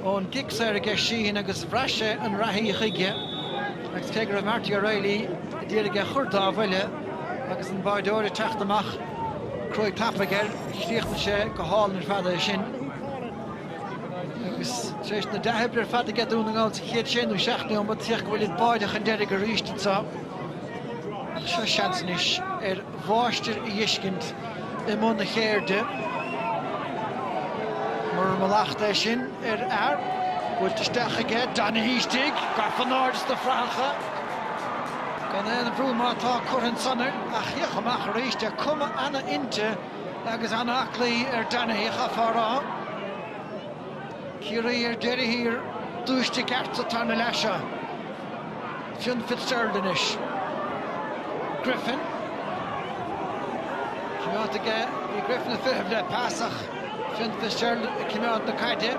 ón gcic saor aige Sheehan agus bhraith sé an reathaí chuige agus cé go raibh Marty O'Reilly d'iarraidh é a chur dá bhuille agus an báireoir ag teacht amach, cruaidh tapaidh air, chríochnaigh sé go hálainn ar fad é sin. Agus tar éis na dea-oibre ar fad aige Dún na nGall sa chéad sé nó seacht neomat, féach go bhfuilid báire chun deiridh arís anseo. Seo seans anois ar mháistir a dheiscint i mbun a chéirde. Mar a mholadh ansan ar fad, buailte isteach aige, Donaghy istigh, gafa in airde sna frathacha. Gan aon bhrú má tá curtha ansan ar an chic amach arís, tá cuma ana-oilte agus ana-aclaí ar Donaghy chaithfeá rá. Ciarraí ar deireadh thiar, dúisithe i gceart sa tarna leath seo. Fionn Fitzgerald anois. Griffin. Cimeádta aige Griffin ag feitheamh le pas ach Fionn Fitzgerald ag cimeád na caide.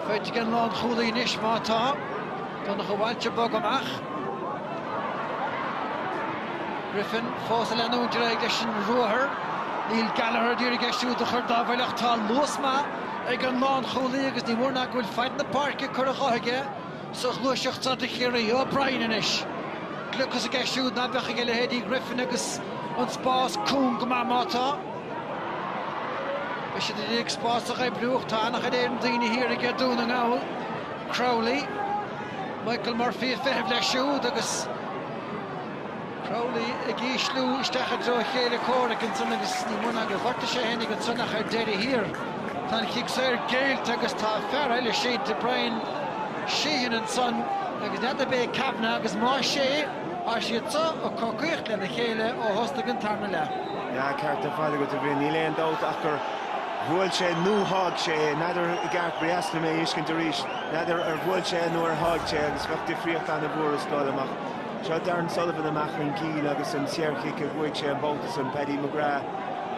Faighte aige an lán chúlaí anois má tá. Donncha Walsh ag bogadh amach. Griffin fós ag leanúint ar aghaidh leis an ruathar. Neil Gallagher ag iarraidh é siúd a chur dá bhuille ach tá luas maith ag an lán chúlaí agus ní mór nach bhfuil fad na páirce curtha de aige. sa ghluaiseacht seo do Chiarraí. O'Brien anois, gliocas aige siúd ná beadh aige leithéidí Griffin agus an spás cúng go maith má tá. Beidh siad ag iarraidh spás a oibriú ach tá ana-chuid in Éirinn daoine thiar aige Dún na nGall. Crowley, Michael Murphy ag feitheamh leis siúd agus. Crowley ag ísliú isteach i dtreo a chéile comhraic ansin agus ní mó ná gur ghortaigh sé féinig ansan ach ar deireadh thiar. Tá an cic saor géillte agus tá fear eile, sínte, Bryan Sheehan, ansan agus n'fheadar ab é Kavanagh agus más é, tá siad seo ag cogaíocht lena chéile ó thosnaigh an tarna leath. An ceart ar fad agat, a Bhriain. Níl aon dabht ach gur bhuail sé nó sháigh sé é. N'fheadar i gceart, ba dheas liom é a fheiscint arís. N'fheadar ar bhuail sé nó ar sháigh sé agus bheadh difríocht ana mhór is dóigh liom ach. Seo Darran Sullivan amach chun cinn agus an saorchic a bhuaigh sé an babhta san, Paddy McGrath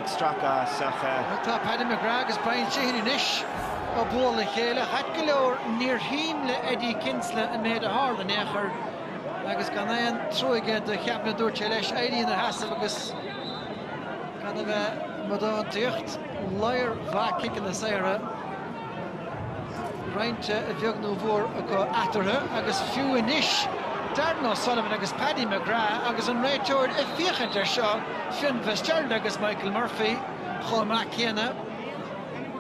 ag stracadh as ach. Bhuel tá Paddy McGrath agus Brian Sheehan anois ag bualadh le chéile. Ait go leor níor thaitin le Eddie Kinsella an méid a tharla in aon chor agus gan aon trua aige do Kavanagh a dúirt sé leis éirí ina sheasamh agus gan a bheith ag amadántaíocht. Ladhar mhaith ciceanna saora. Roinnte a bheag nó a mhór acu eatarthu agus fiú anois, Darran O'Sullivan agus Paddy McGrath agus an réiteoir ag féachaint air seo, Fionn Fitzgerald agus Michael Murphy chomh maith céanna.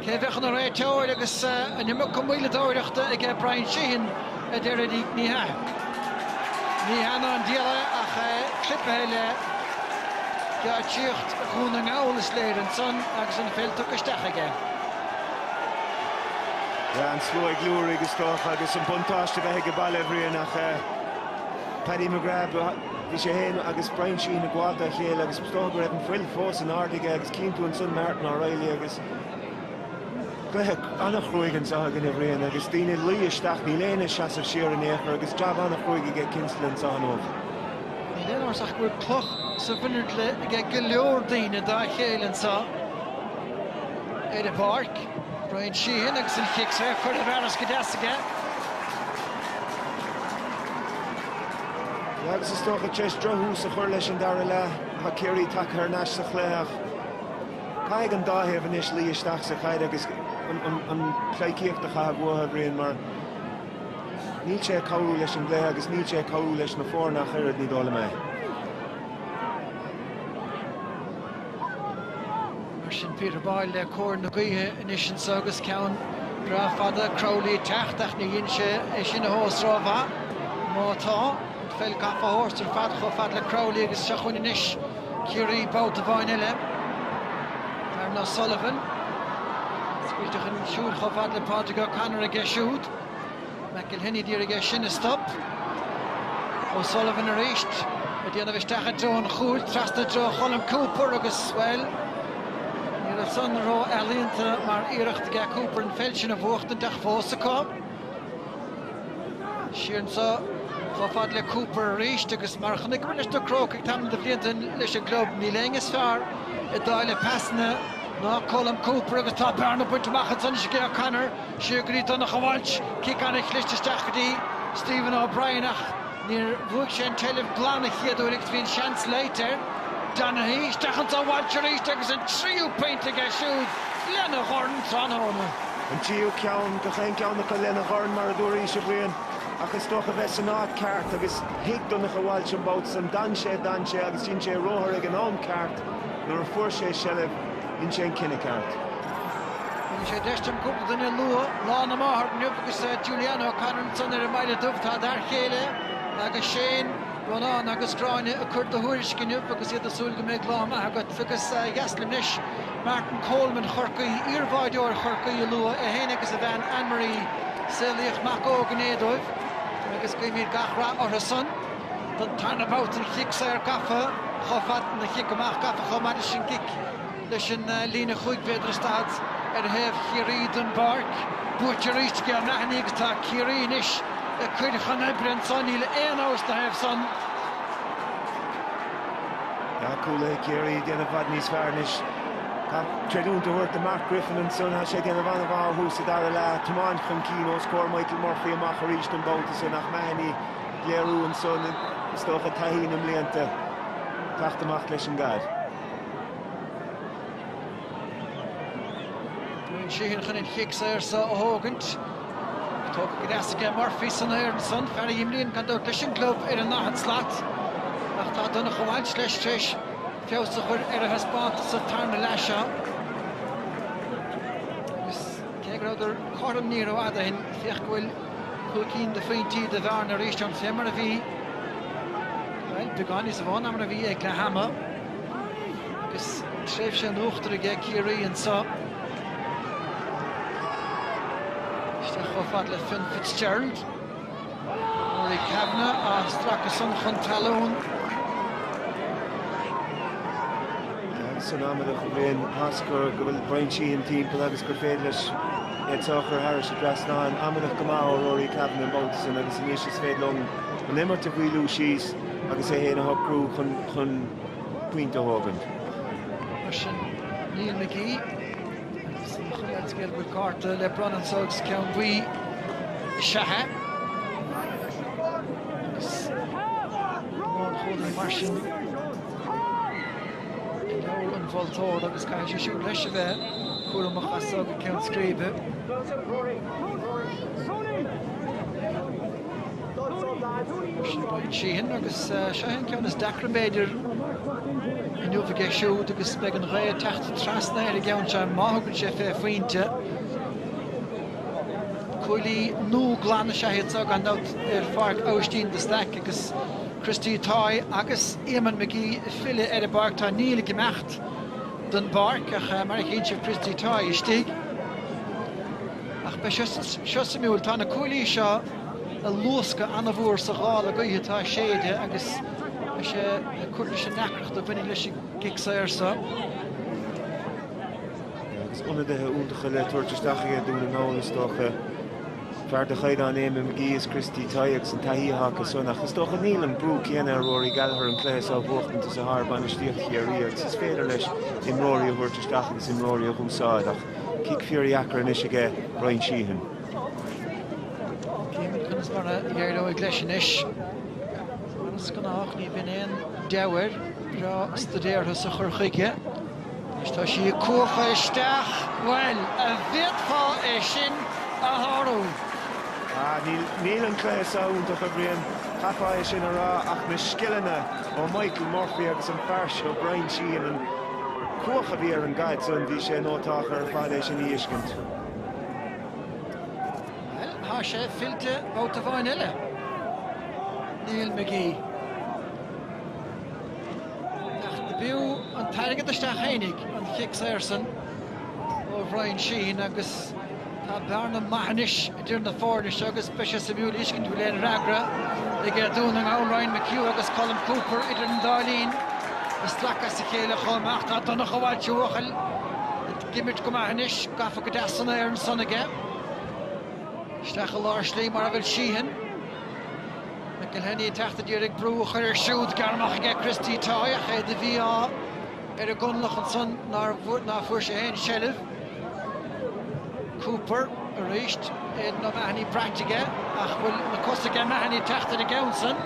Cé a bheadh ina réiteoir agus an iomarca moilleadóireachta aige Bryan Sheehan, a deir Eddie Ní hea. Ní hea ná an dial é ach é clipthe le geáitsíocht Dhún na nGall, is léir, ansan agus an pheil tugtha isteach aige. An slua ag liúirigh is dócha agus an buntáiste bheith aige baile, a Bhriain, ach Paddy McGrath, bhí sé fhéin agus Brian Sheehan ag gabháilt dá chéile agus is dócha go raibh an fuil fós in airde aige agus cíonn tú ansan Martin O'Reilly agus cluiche an-chruaigh anseo againn, a Bhriain, agus daoine ag luí isteach, níl éinne ag seasamh siar in aon chor agus jab an-chruaigh aige Kinsella anseo inniu. Níl aon amhras ach go bhfuil cloch sa mhuinchille aige go leor daoine dá chéile anseo. ar an bpáirc. Bryan Sheehan agus an cic saor curtha i bhfearas go deas aige. Agus is dócha tar éis drochthús a chur leis an dara leath, tá Ciarraí tagtha thar n-ais sa chluiche ach caithfidh an dá thaobh anois luí isteach sa chaid agus an pleidhcíocht a chaitheamh uathu, a Bhriain, mar níl sé ag cabhrú leis an gcluiche agus níl sé ag cabhrú leis na foirne ach oiread, ní dóigh liom é. Mar sin Peter Boyle le cóir na gaoithe anois anso agus ceann breá fada Crowley ag teacht ach ní dhein sé é sin a thomhas ró mhaith. Má tá, an pheil gafa a thabhairt ar fad chomh fada le Crowley agus seo chugainn anois Ciarraí babhta amháin eile. Darran O'Sullivan. Scaoilte chun siúil chomh fada le Pádraig O'Connor aige siúd. McElhinney d'iarraidh é sin a stop. O'Sullivan arís ag déanamh isteach i dtreo an chúil, trasna i dtreo Cholm Cooper agus, bhuel, ní raibh san ró-ealaíonta mar iarracht aige Cooper an pheil sin a bhuachtaint ach fós acu. Siar anseo chomh fada le Cooper arís agus mar a chonaiceamar leis na Crócaigh le tamall de bhlianta leis an gclub, níl éinne is fearr ag dáileadh pasanna ná Colm Cooper agus tá bearna bainte amach anseo anois ag O'Connor. Siar go dtí Donncha Walsh, cic an-chliste isteach go dtí Stephen O'Brien ach níor bhuaigh sé an tseilbh glan an chéad uair agus bhí an seans leite ar Donaghy. Isteach anso Walsh arís agus an tríú pointe aige siúd lena dhorn tráthnóna. An tríú ceann do gach aon cheann acu lena dhorn mar a dúraís, a Bhriain, ach is dócha bheith san áit ceart agus thuig Donncha Walsh an babhta san. D'fhan sé, d'fhan sé agus dhein sé ruathar ag an am ceart nuair a fuair sé seilbh. Dhein sé an cinneadh ceart. Tugann sé deis dúinn cúpla duine a lua lá na máthar inniu agus Julianne O'Connor ansan ar an mBaile Dubh. Tá d'fhear chéile agus Shane, Ronán agus Gráinne ag cur do thuairisc inniu agus iad ag súil go mbeidh lá maith agat. Agus ba dheas linn anois Martin Coleman Chorcaí, iarbháideoir Chorcaí, a lua, é féin agus a bhean Ann Marie. Saolaíodh mac óg inné dóibh agus guímid gach rath orthusan. den tarna babhta. An cic saor gafa chomh fada, an cic amach gafa chomh maith leis an gcic. Páirc leis an líne chúig mhéadar is daichead ar thaobh Chiarraí den bpáirc. Buaite arís ag Aidan O'Mahony agus tá Ciarraí anois ag cur chun oibre anseo. Níl aon amhras na thaobh san. Tá cúlaithe Chiarraí ag déanamh i bhfad níos fearr anois. Tá creidiúint le tabhairt do Mark Griffin anseo. Tá sé ag déanamh an-mhaith ó thús an dara leath. Tiomáint chun cinn os comhair Michael Murphy amach arís an babhta san. Nach Mahony ag léiriú anseo is dócha taithí na mblianta teacht amach leis an gcaid. Bryan Sheehan chun an chic saor seo a thógaint. Tógtha go deas aige Murphy san aer ansan, fear a imríonn gan dabht leis an gclub ar an ndaichead slat, ach tá Donncha Walsh leis tar éis feabhas a chur ar a thaispeántas sa tarna leath seo. Agus cé go rabhadar cothrom ní rófhada ó shin, féach go bhfuil Cúig cinn de phointí do bhearna arís fé mar a bhí, bhuel, beagán níos mhó ná mar a bhí ag leath ama agus tréimhse in uachtar aige Ciarraí anseo. Isteach chomh fada le Fionn Fitzgerald. Rory Kavanagh á stracadh san chun talún. Tuigeann muid linn, Oscar, go bhfuil Brian Sheehan timpeall agus gur féidir leis a chur thairis an dtrasnán amach go maith ó Rory Kavanagh an babhta san agus anois is féidir leo an imirt a mhaolú síos agus é féin a shocrú chun pointe a thógaint. Mar sin, Neil McGee agus an chuma ar an scéal go bhfuil cárta le bronnadh anso agus ceann buí is ea é. Agus mar sin Is mó an moltóir agus caithfidh sé siúd leis a bheith cúramach as so go ceann scríbe. Sheehan agus seo an ceann is deacra b'fhéidir inniu aige siúd agus beidh an ghaoth ag teacht trasna ar an gceann seo má thugann sé fé phointe. Cuaillí nua glan is ea iad seo gan dabht ar Pháirc Aibhistín de Staic agus Christy Toye agus Eamonn McGee ag filleadh ar an bpáirc. Tá Neil ag imeacht den bpáirc ach, mar a chíonn sibh, Christy Toye istigh. Ach beidh seo suimiúil. Tá na cuaillí seo ag luascadh an-mhór sa ghála gaoithe atá ag séideadh agus beidh sé ag cur leis an ndeacracht a bhaineann leis an gcic saor seo. Agus ionadaithe iontacha le tabhairt isteach aige Dún na nGall, is dócha. Fear de chaighdeán Eamonn McGee is Christy Toye agus an taithí atá acu san, ach is dócha níl an brú céanna ar Rory Gallagher an cluiche seo a bhuachtaint is atá ar bhainistíocht Chiarraí agus is féidir leis imreoirí a thabhairt isteach agus imreoirí a dh'úsáid ach cic fíordheacair anois aige Bryan Sheehan. Chífimid conas mar a éireoidh leis anois. Mar is gnách ní bhíonn aon deabhadh air, breá staidéartha sa chur chuige. Anois tá sí ag cuachadh isteach. Bhuel, an bhféadfá é sin a shárú? Ah, níl, níl an cluiche seo iontach, a Bhriain, chaithfeá é sin a rá, ach na scileanna ó Michael Murphy agus an fear seo Bryan Sheehan, an chuach a bhí ar an gcaid san, bhí sé iontach ar fad é sin a fheiscint. Bhuel, tá sé fillte babhta amháin eile. Neil McGee. Ach do b'fhiú an t-airgead isteach fhéinig an cic saor san ó Bhryan Sheehan agus tá bearna maith anois idir na foirne seo agus beidh sé suimiúil a fheiscint an bhfuil aon fhreagra ag Dún na nGall, Ryan McHugh agus Colm Cooper idir an dá linn, ag sracadh as a chéile chomh maith. Tá Donnacha Walsh, a bhuachaill, ag imirt go maith anois, gafa go deas san aer ansan aige. Isteach i lár slí mar a bhfuil Sheehan. McElhinney ag teacht d'iarraidh brú a chur air siúd. Gearrtha amach aige Christy Toye ach é de mhí-ádh ar an gConallach ansan nár fuair sé féin seilbh. Cooper arís. Aidan O'Mahony braite aige ach bhfuil na cosa aige? Mahony ag teacht ar an gceann san.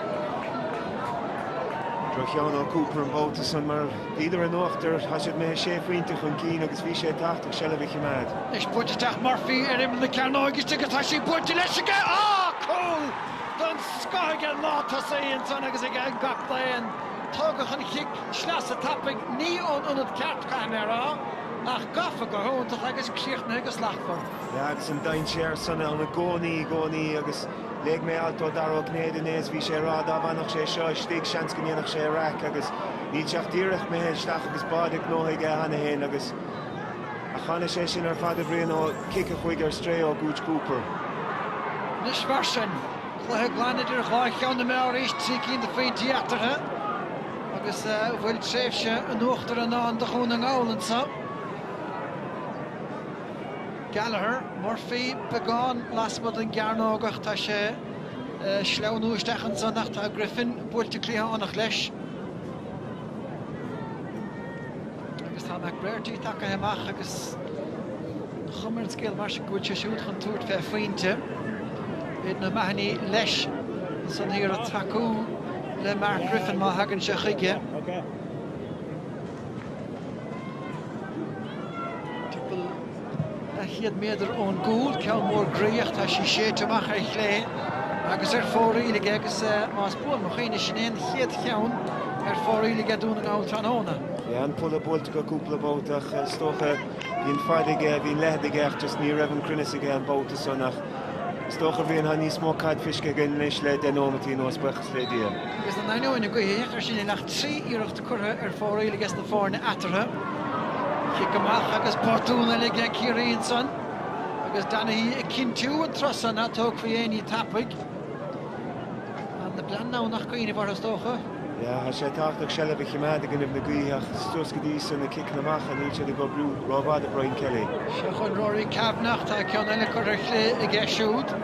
Drochcheann ó Cooper an babhta san mar bhíodar in uachtar tá siad mé sé phointe chun cinn agus bhí sé tábhachtach seilbh a chimeád. Anois buaite ag teacht Murphy ar imeall na cearnóige istigh agus tá sí buaite leis aige. Ááá! Cúl! den scoth ag an lántosaí ansan agus ag an gcaptaen. Tógadh an chic sleasa tapaidh ní ón ionad ceart caithfidh mé a rá, ach gafa go hiontach agus críochnaithe go slachtmhar. Yeah agus an dainséar san ann i gcónaí, i gcónaí agus léigh mé alt ó Dara Ó Cinnéide inné is bhí sé ag rá dá bhfanfadh sé seo istigh seans go ndéanfadh sé raic agus níl sé ach díreach imithe isteach agus báide gnóthaithe aige cheana féin agus Ach tháinig sé sin ar fad a Bhriain ó chic a chuaigh ar strae ó Gooch Cooper. Anois mar sin, cluiche againn idir dhá cheann na meá arís, trí cinn de phointí eatarthu agus an bhfuil tréimhse in uachtar i ndán do Dhún na nGall anseo. Gallagher, Murphy, beagán lasmuigh den gcearnóg ach tá sé ag sleamhnú isteach ansan ach tá Griffin buailte cliathánach leis. agus tá McBrearty tagtha amach agus an chuma ar an scéal mar sin go bhfuil sé siúd chun tabhairt fé phointe. Aidan O'Mahony leis san ag iarraidh tacú le Mark Griffin má thagann sé chuige. Timpeall Leathchéad méadar ón gcúl, ceann mór groí ach, tá sí séidte amach ar chlé agus ar fóraoil aige agus más buan mo chuimhne sin é an chéad cheann ar fóraoil aige Dún na nGall tráthnóna. Bhí an pola buailte acu cúpla babhta ach is dócha, bhí an fad aige, bhí an leithead aige ach just ní raibh an cruinneas aige an babhta san ach is dócha Brian tá níos mó caid feiscthe againn anois le deich nóimeataí anuas, buíochas le Dia. Agus in ainneoin an gaoth a bheith mar sin níl ach trí iarracht curtha ar fóraoil aige sna foirne eatarthu. Cic amach agus botún eile aige Ciarraí ansan agus Donaghy ag cinntiú an turas so ná tógfaí aon ní tapaidh. Ar nós an Domhnach i gcoinnibh Chorcaí is dócha? Yeah, tá sé tábhachtach seilbh a chimeád i gcoinnibh na gaoithe ach is dócha go dtí seo na ciceanna amach a níl siad ag obriú ró-mhaith do Brian Kelly. Seo chun Rory Kavanagh, tá ceann eile curtha ar chlé aige siúd.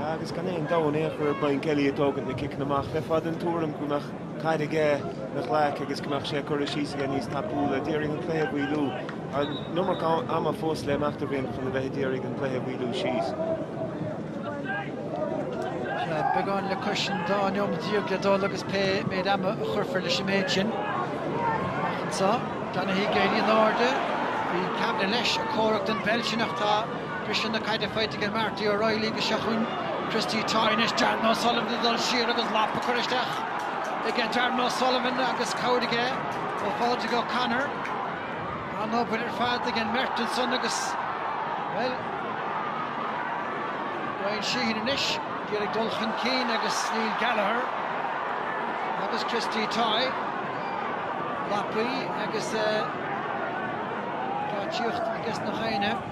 Agus gan aon dabht, níl deifir ar Brian Kelly ag tógaint na ciceanna amach. Bheifeá den tuairim go mbeadh caid aige ina ghlaic agus go mbeadh sé á cur síos aige níos tapúla. D'iarraidh an cluiche a mhoilliú. An iomarca ama fós le himeacht againn chun a bheith ag iarraidh an cluiche a mhoilliú síos. Beagán le cois an dá neomat déag le dul agus pé méid ama a chuirfear leis an méid sin amach anseo. Donaghy ag éirí in airde. Bhí Kavanagh leis ag comhrac don pheil sin ach tá. Briseann an chaid faighte ag Marty O'Reilly agus seo chugainn Christy Toye anois, Darren O'Sullivan ag dul siar agus lapa á cur isteach aige, Darren O'Sullivan agus cabhair aige ó Phádraig O'Connor. An-obair ar fad ag an mbeirt ansan agus, bhuel, Brian Sheehan anois, iad ag dul chun cinn agus Neil Gallagher agus Christy Toye, lapaí agus geáitsíocht i gceist na foirne.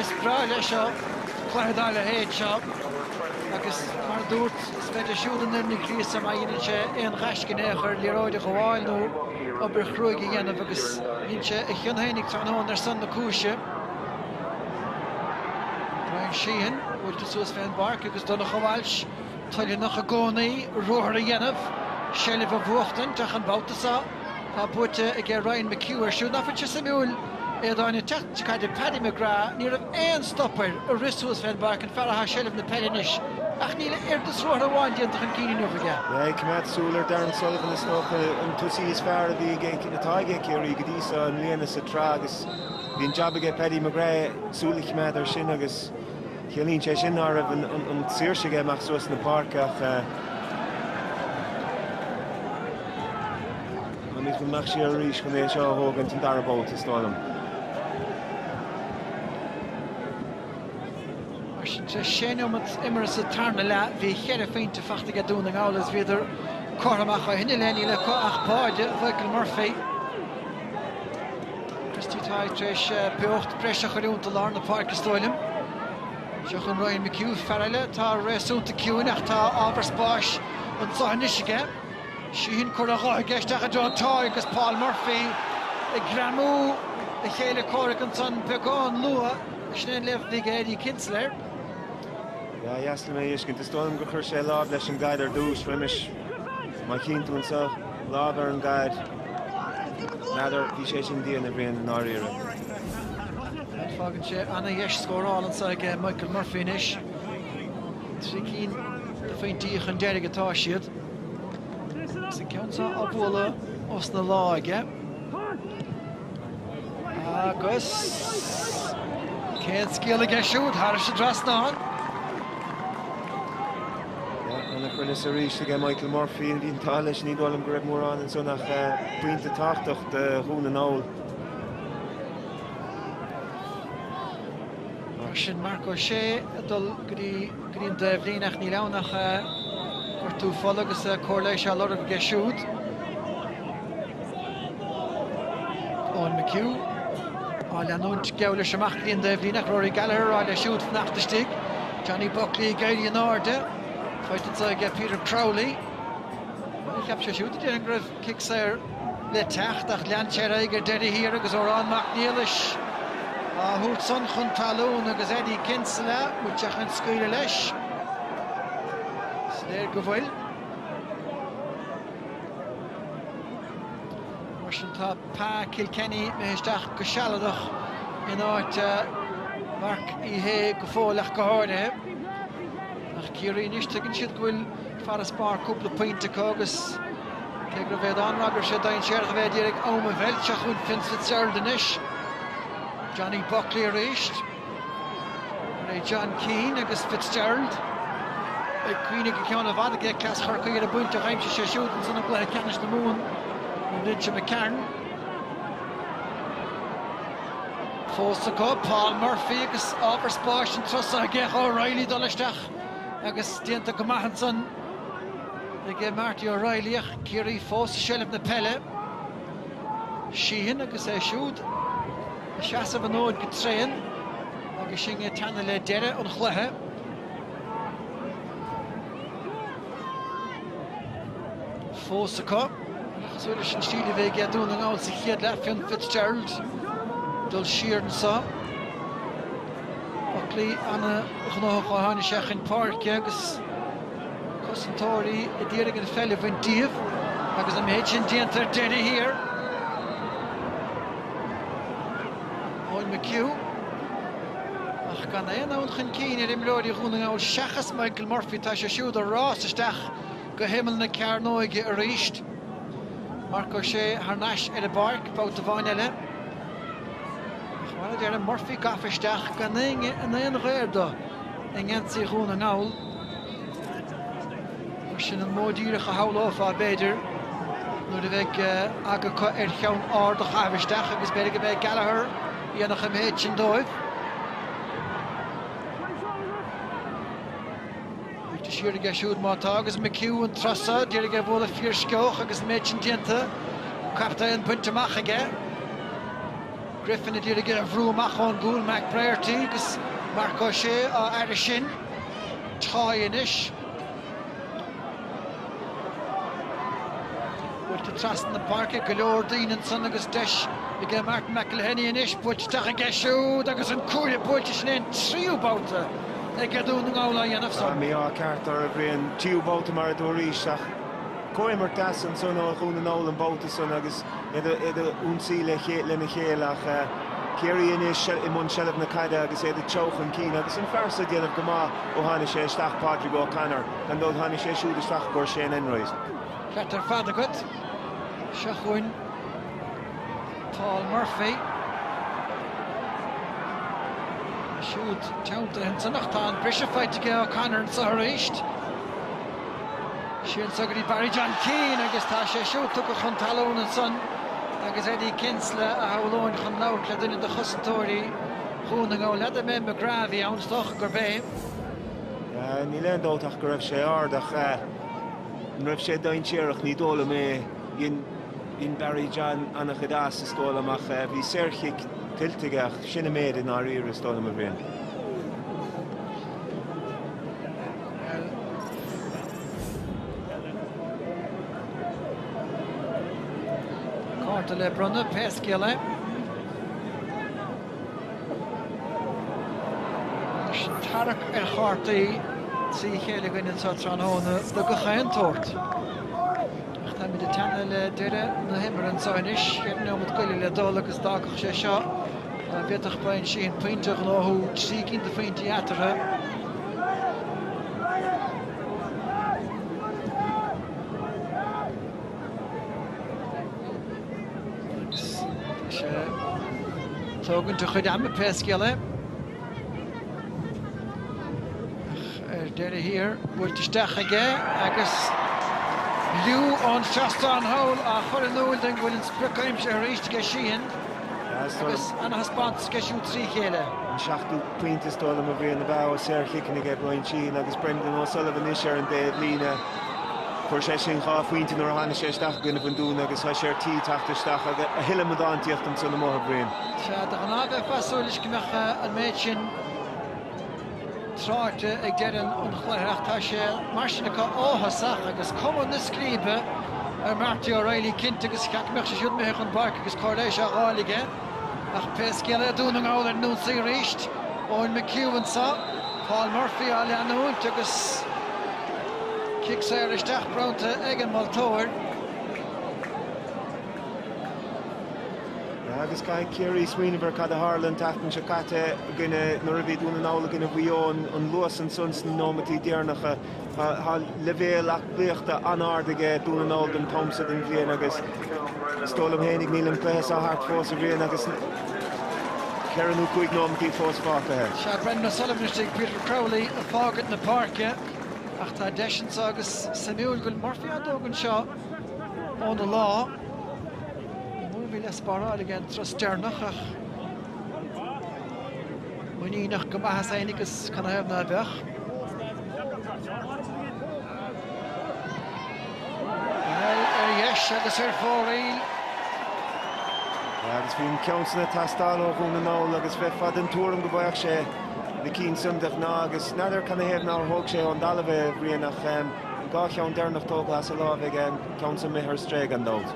Is breá leis seo, cluiche dá leithéid seo, agus mar a dúirt, spreagann siúd an fhoireann, gríosadh má dheineann sé aon ghaisce in aon chor, liathróid a ghabháil nó obair chruaig a dhéanamh, agus dhein sé a chion fhéinig tráthnóna ar son na cúise. Brian Sheehan buailte suas fé an bpáirc agus Donncha Walsh toiltheanach i gcónaí ruathar a dhéanamh, seilbh a bhuachtaint ach an babhta san, Tá buaite aige Ryan McHugh air siúd. Ná fuil sé suimiúil, a Aodháin, ag teacht chun cadé Paddy McGrath, ní raibh aon stop air ag rith suas fén bpáirc, an fear athá i seilbh na peile anois, ach níl a oiread is ruathar amháin déanta chun cinn inniu aige. Bheith ag coimeád súil ar Darren Sullivan is dócha an tosaí is fearr a bhí ag, atá ag Ciarraí go dtí seo i mbliana sa tsraith agus bhí an jab aige Paddy McGrath súil a choimeád air sin agus Ciallaíonn sé sin ná raibh an tsaoirse aige imeacht suas na páirce ach an bhfuil an mbeadh sé arís chun é seo a thógaint an dara babhta so is dóigh liom. Mar sin de, sé neomat imeartha sa tarna leath, bhí cheithre phointe faighte aige Dún na nGall is bhíodar cothrom ach ó shin i leith níl acu ach pointe Mhichael Murphy. Christy Toye tar éis beocht breis a chur iontu i lár na páirce is dóigh liom. Seo chugainn Ryan McHugh, fear eile atá réasúnta ciúin ach tá ábhar spáis ansan anois aige. Síneann cor an ghutha aige isteach i dtreo Toye agus Paul Murphy ag greamú a chéile comhraic ansan beagán luath ag sin an léamh bhig ar Eddie Kinsella. Ba dheas liom é a fheiscint. Is dóigh liom gur chuir sé láimh leis an gcaid ar dtús roimis. Má chíonn tú anseo, lámh ar an gcaid, n'fheadar, bhí sé sin dian a Bhriain i ndáiríre. Fágann sé ana-dheis scóráil anseo ag Michael Murphy anois. Trí cinn de phointí chun deiridh atá siad. Agus an ceann seo á bualadh as na lámha aige. Agus ceann scuabtha aige siúd thar an dtrasnán? Yeah, ana-chruinneas arís aige Michael Murphy le blianta leis ní dóigh liom go raibh mórán ansan ach eh, pointe tábhachtach do Dhún na nGall. Mar sin Marc Ó Sé ag dul go dtí go dtí an taobhlíne ach níl ann ach eh, gortú fola agus eh, comhairle seo á lorg aige siúd. Eoin McHugh á leanúint, geall leis amach i leith an taobhlíne ach Rory Gallagher á rá leis siúd fanacht istigh, Johnny Buckley ag éirí in airde, faighte anseo ag Peter Crowley. Bhuel, cheap sé siúd, a déarfainn, go raibh cic saor le teacht ach lean sé ar aghaidh ar deireadh thiar agus Odhrán Mac Niallais á thabhairt san chun talún agus Eddie Kinsella atá chun scaoileadh leis. Is léir go bhfuil. Mar sin tá Pa Kilkenny imithe isteach go sealadach in áit Mharc Uí Shé go fóill ach go háirithe. Ach Ciarraí anois tuigeann siad go bhfuil farasbarr cúpla pointe acu agus cé go bhféadfainn a rá gur sé dainséarach a bheith ag iarraidh am a mheilt, seo chugainn Fionn Fitzgerald anois, Johnny Buckley arís. Barry John Keane agus Fitzgerald beidh cuimhne go ceann i bhfad ag Lúthchleas Chorcaí ar an bpointe a d'aimsigh sé siúd ansan i gcluiche ceannais na Mumhan an bhliain seo d'imigh tharainn. Fós acu, Paul Murphy agus ábhar spáis an turas so aige ach O'Reilly dul isteach agus déanta go maith ansan ag Marty O'Reilly ach Ciarraí fós i seilbh na peile. Sheehan agus é siúd. ag seasamh an fhóid go tréan agus sinn ag teannadh le deireadh an chluiche. fós acu. Cosúil leis an stíl a bhí ag Dún na nGall sa chéad leath Fionn Fitzgerald dul siar anseo. Buckley ana-ghnóthach ó tháinig sé chun páirce agus cosantóirí a d'iarraidh an pheil a bhaint díobh agus an méid sin déanta ar deireadh thiar. Eoin McHugh, Ach gan aon fhonn chun cinn ar imreoirí Dhún na nGall seachas Michael Murphy, tá sé siúd ag rás isteach go himeall na cearnóige arís. Marc Ó Sé thar n-ais ar an bpáirc babhta amháin eile. Ach mar a deirim, Murphy gafa isteach gan éinne gar dó i ngeansaí Dhún na nGall. Sin an modh díreach a shamhlófá, b'fhéidir, nuair a bheidh acu ar cheann ard a chaitheamh isteach agus b'fhéidir go mbeidh Gallagher ag déanamh an méid sin dóibh. Cic saor aige siúd má tá agus McHugh an tráth seo d'iarraidh a bhualadh fíorsceoch agus an méid sin déanta, captaen bainte amach aige. Griffin a d'iarraidh é a bhrú amach ón gcúl, McBrearty agus Marc Ó Sé á fhaire sin. Tá anois. Buailte trasna na páirce, go leor daoine ansan agus deis aige Martin McElhinney anois buailte isteach aige siúd agus an cuaille buailte, sin é an tríú babhta aige Dún na nGall á dhéanamh san. Tá mí-ádh ceart orthu, bhí an tríú babhta mar a dúraís ach comhimirt deas ansan ó Dhún na nGall an babhta san agus iad ag ionsaí lena chéile ach Ciarraí anois i mbun seilbh na caide agus iad ag treabhadh chun cinn agus an fear so ag déanamh go maith. Ó tháinig sé isteach Pádraig O'Connor, gan dabht tháinig sé siúd isteach i gcomhair Shane Enright. Ceart ar fad agat. Seo chugainn Paul Murphy. Tá siúd teanntaithe ansan ach tá an briseadh faighte aige O'Connor anseo arís. Ansan go dtí Barry John Keane agus tá sé siúd tugtha chun talún ansan agus Eddie Kinsella a shamhlóinn chun labhairt le duine de chosantóirí Dhún na nGall. Éamonn McGrath a bhí ann, is dócha gurb é. Níl aon dabht ach go raibh sé ard ach an raibh sé dainséarach, ní dóigh liom é. Dhein Barry John ana-chuid as, is dóigh liom, ach bhí saorchic tuillte aige ach sin an méid i ndáiríre, is dóigh liom, a Bhriain. Cárta le bronnadh, pé scéal é. Tarrac ar chártaí trí chéile againn anseo tráthnóna de gach aon tsórt. Ach táimid ag teannadh le deireadh na himeartha anseo anois. Cheithre nóiméad go leith le dul agus d'fhágfadh sé seo go bhféadfadh Bryan Sheehan pointe a ghnóthú, trí cinn de phointí eatarthu. Agus tá sé ag tógaint a chuid ama pé scéal é. Ach ar deireadh thiar, buailte isteach aige agus liú ón seastán thall á chur in iúl dúinn go bhfuil an sprioc aimsithe arís aige Sheehan agus ana thaispeántas aige siúd trí chéile. An seachtú pointe is dóigh liom a bhí arna bhfáil ó shaorchiceanna aige Bryan Sheehan agus Brendan O'Sullivan anois ar an dtaobh líne. Fuair sé siúd dhá phointe nuair a tháinig sé isteach i gcoinnibh an Dúin agus tá sé ar tí teacht isteach a thuilleadh útamálaíocht ansan amuigh a Bhriain. Sea, de ghnáth bheifeá ag súil leis go mbeadh an méid sin tráchta ag deireadh an chluiche ach tá sé mar sin acu ó thosach agus cuma na scríbe ar Marty O'Reilly cinnte agus cheapfá go mbeadh sé siúd imithe chun páirce agus comhairle á fháil aige. Ach pé scéal é, Dún na nGall ar an ionsaí arís. Eoin McHugh anseo, Paul Murphy á leanúint agus cic saor isteach bronnta ag an moltóir. Agus caithfidh Ciarraí smaoineamh ar cad a tharla an tseachtain seo caite i gcoinne, nuair a bhí Dún na nGall i gcoinne Mhaigh Eo, an luas ansan sna nóimeataí deireanacha. Tá leibhéal aclaíochta an-ard aige Dún na nGall don t-am seo den bhliain agus is dóigh liom fhéinig níl an cluiche seo thart fós, a Bhriain, agus ceithre nó cúig nóimintí fós fágtha air. Sea, Brendan O'Sullivan istigh, Peter Crowley ag fágaint na páirce ach tá deis anseo agus suimiúil go bhfuil Murphy ag tógaint seo óna láimh. Ní mór a bhí le spáráil aige an turas deireanach ach. Muiníneach go maith as féin agus canathaobh ná beadh? Bhuel, ar dheis agus ar fóraoil. Agus bhí an ceann san ag teastáil ó Dhún na nGall agus bheifeá den tuairim go bhfaigheadh sé na cinn san de ghnáth agus n'fheadar canathaobh nár thóg sé ón dtalamh é, Brian, ach an dhá cheann deireanach tógtha as a láimh aige, an ceann san imithe ar strae gan dabht.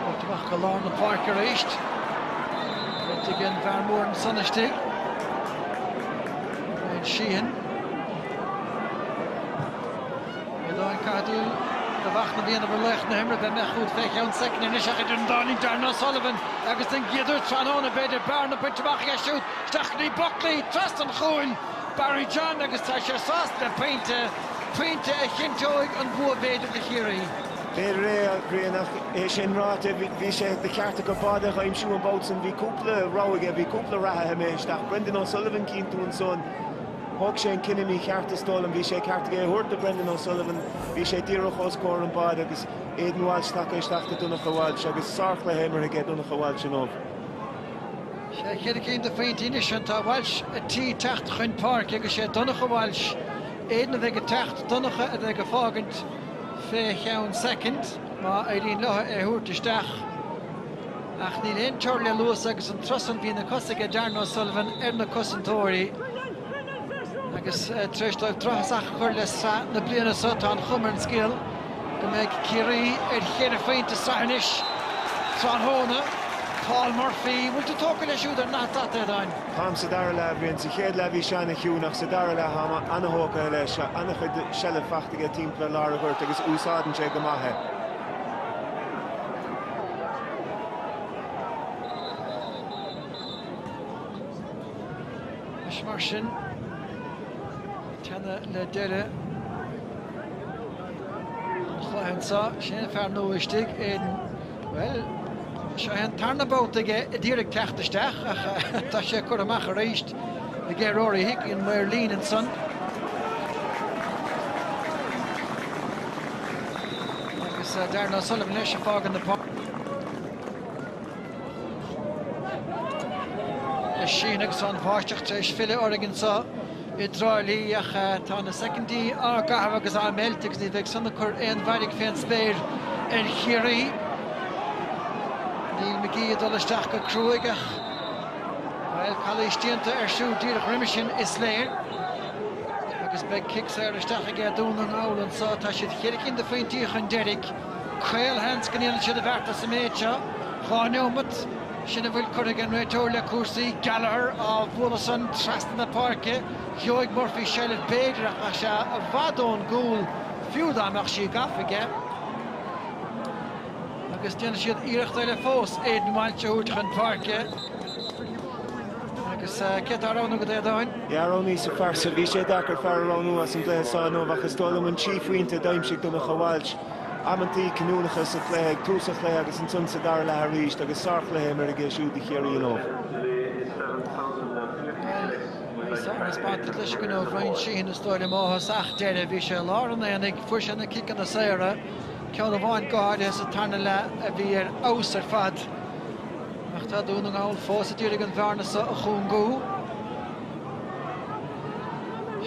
Beirt a bheadh i lár na páirce arís. Beirt ag an bhfear mór ansan istigh. Bryan Sheehan. Aodáin Cathú a bheadh na bliana mar laoch na himeartha bheith mbeadh úd fé cheann soicind anois ach idir an dá linn Darren O'Sullivan agus an giotar tráthnóna b'fhéidir bearna bainte amach dheisiúd Seachnaíonn Buckley trasna an chúil Barry John agus tá sé sásta le pointe, pointe a chinnteoidh an bua b'fhéidir do Chiarraí. B'fhéidir é, a Bhriain, ach é sin ráite, bhí sé de cheart acu bád a aimsiú an babhta sin. Bhí cúpla rogha aige, bhí cúpla reathaí imithe isteach. Brendan O'Sullivan, cíonn tú ansan, thóg sé an cinneadh mícheart is dóigh liom. Bhí sé ceart aige é a thabhairt do Brendan O'Sullivan, bhí sé díreach os comhair an báid agus Aidan Walsh tagtha isteach do Donncha Walsh agus sárchluiche imeartha aige Donncha Walsh inniu. Ceithre cinn de phointí anois ann. Tá Walsh ar tí teacht chun páirce agus sé Donncha Walsh, Aidan a bheidh ag teacht, Donncha a bheidh ag fágaint fé cheann soicind má éiríonn leo é a thabhairt isteach ach níl aon teor le luas agus an turas san bhí na cosa aige Darren O'Sullivan ar na cosantóirí agus tar éis dóibh drochthosach a chur le sraith na bliana so tá an chuma ar an scéal. Go mbeidh Ciarraí ar cheithre phointe sa tsraith anois tráthnóna. Paul Murphy, an bhfuil tú tógtha leis siúd ar an daichead? Táim sa dara leath, a Bhriain. Sa chéad leath bhí sé an-chiúin ach sa dara leath táim an-tógtha leis. An-chuid seilbh faighte aige timpeall lár an ghoirt agus úsáideann sé go maith é. Anois mar sin, teannadh le deireadh. An chluiche anseo, sin é an fear nua istigh, Aidan. Bhuel, seo é an tarna babhta aige a d'iarraidh teacht isteach ach tá sé curtha amach arís aige Rory Hickey, an maor líne ansan. Agus Darren O'Sullivan leis ag fágaint na páirce. Sín agus an bháisteach tar éis filleadh orainn anseo. I dTrá Lí ach tá na soicindí á gcaitheamh agus á meilt agus ní bheidh san ag cur aon mhairg fén spéir ar Chiarraí. Neil McGee ag dul isteach go cruaidh ach, bhuel, calaois déanta air siúd díreach roimis sin, is léir, agus beidh cic saor isteach aige Dún na nGall anseo. Tá siad cheithre cinn de phointí chun deiridh. Caolsheans go ndéanann siad an bheart sa méid seo. Dhá neomat. Sin a bhfuil curtha ag an réiteoir le cúrsaí. Gallagher á bhualadh san trasna na páirce. Gheobhaidh Murphy seilbh b'fhéidir ach tá sé i bhfad ón gcúl, fiú dá mbeadh sí gafa aige. Agus déanfaidh siad iarracht eile fós Aidan Walsh a thabhairt chun páirce. Agus cé atá á roghnú agat, a Aodáin? Yeah, roghnaíos an fear so. Bhí sé deacair fear a roghnú as an gcluiche seo inniu ach is dóigh liom an trí phointe a d'aimsigh Donnchadh Walsh. Amantaí cinniúnacha sa chluiche, ag tús an chluiche agus ansan sa dara leath arís agus sár-chluiche imeartha aige siúd do Chiarraí inniu. Bhuel, bhí sárthaispeántas leis againn ó Bhryan Sheehan is dóigh liom ó thosach deireadh. Bhí sé i lár an aonaigh, fuair sé na ciceanna saora, ceann amháin go háirithe sa tarna leath a bhí ar fheabhas ar fad. Ach tá Dún na nGall fós ag iarraidh an bhearna seo a chúngú.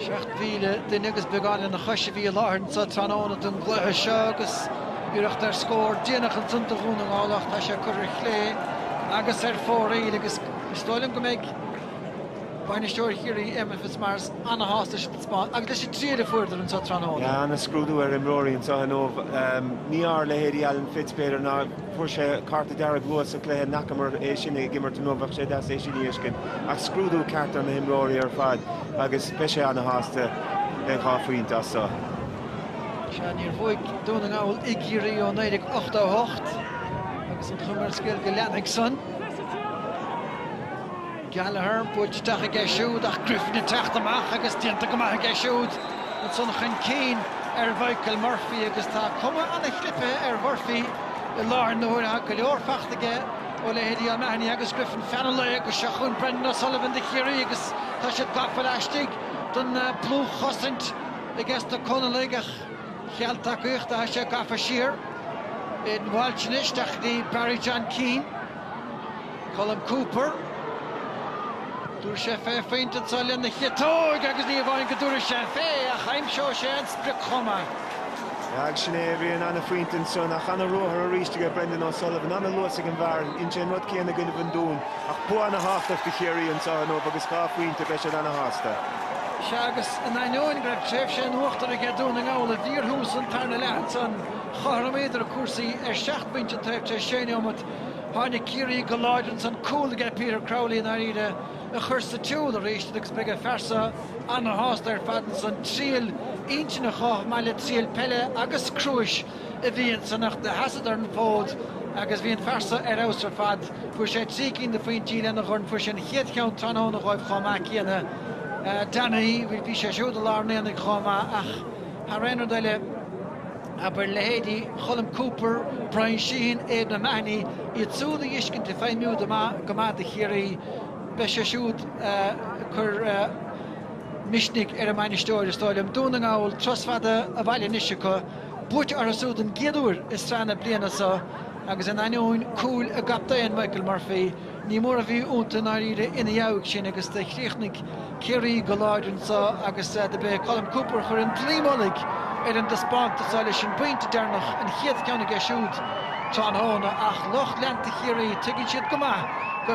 7,000 duine agus beagán lena chois a bhí i láthair anseo tráthnóna don gcluiche seo agus iarracht ar scór déanach ansan do Dhún na nGall ach tá sé curtha ar chlé agus ar fóraoil agus is dóigh liom go mbeidh bainisteoir Chiarraí, Éamonn Fitzmaurice, an-shásta leis an taispeántas agus leis an triail a fuaireadar anseo tráthnóna. Ana-scrúdú ar imreoirí anseo inniu. Ní ar leithéidí Alan Fitz b'fhéidir ná. fuair sé cárta dearg luath sa cluiche, n'fhacamar é sin ag imirt inniu, bheadh sé deas é sin a fheiscint. Ach scrúdú ceart ar na himreoirí ar fad agus beidh sé ana shásta. Beidh dhá phointe as seo. Sea, níor bhuaigh Dún na nGall i gCiarraí ó 1988 agus an chuma ar an scéal go leanfaidh san. Gallagher, buailte isteach aige siúd ach Griffin ag teacht amach agus déanta go maith aige siúd. Ansan chun cinn ar Mhichael Murphy agus tá cuma ana chlipithe ar Mhurphy i láthair na huaire. Tá go leor fachta aige ó leithéidí O'Mahony agus Griffin. Feannadh é go seo chugainn Brendan O'Sullivan do Chiarraí agus tá siad gafa laistigh den dlúthchosaint aige sna Conallaigh ach cheal tacaíochta tá sé gafa siar Aidan Walsh anois isteach go dtí Barry John Keane. Colm Cooper, Dúirt sé fé phointe ansan lena chiotóg agus ní amháin go dtabharfaidh sé fé ach aimseoidh sé an sprioc chomh maith. Ag sin é a dhein an ana-phointe ansan. Ach ana-ruathar arís aige Brendan O'Sullivan. Ana-luas ag an bhfear san. Sé an rud céanna againn i bhFionn Trá. Ach bua ana-thábhachtach do Chiarraí anseo inniu agus dhá phointe beidh siad ana-shásta. Sea agus in ainneoin go raibh tréimhse in uachtar aige Dún na nGall i bhfíorthús an tarna leath ansan chothromaíodar cúrsaí ar seacht bpointe an taobh tar éis sé neomat. Tháinig Ciarraí go láidir agus an cúl aige Peter Crowley i ndáiríre a chuir sa tsiúl arís iad agus beidh an Fiarsach ana-shásta ar fad sin triail intinne chomh maith le triail peile agus cruais a bhí ann anocht. Sheasadar an fód agus bhí an fear san ar fheabhas ar fad. Fuair sé trí cinn de phointí lena dhorn. Fuair sé an chéad cheann tráthnóna dhóibh chomh maith céanna. Donaghy, bhí sé siúd i lár an aonaigh chomh maith ach. Thar aon rud eile, abair, leithéidí Cholm Cooper, Bryan Sheehan, Aidan O'Mahony, iad súd a dhiscint ag feidhmiú go maith do Chiarraí, beidh sé siúd ag cur misnigh ar a mbainisteoir, is dóigh liom. Dún na nGall, turas fada a bhaile anois acu, buaite orthu súd don gcéad uair i sraith na bliana so agus in ainneoin cúil a gcaptaein, Michael Murphy, Ní mó a bhí iontu i ndáiríre ina dheabhaidh sin agus do chríochnaigh Ciarraí go láidir anseo agus do b'é Colm Cooper a chuir an dlaoi mhullaigh ar an dtaispeántas seo leis an bpointe deireanach, an chéad cheann aige siúd tráthnóna ach lucht leanta Chiarraí tuigeann siad go maith go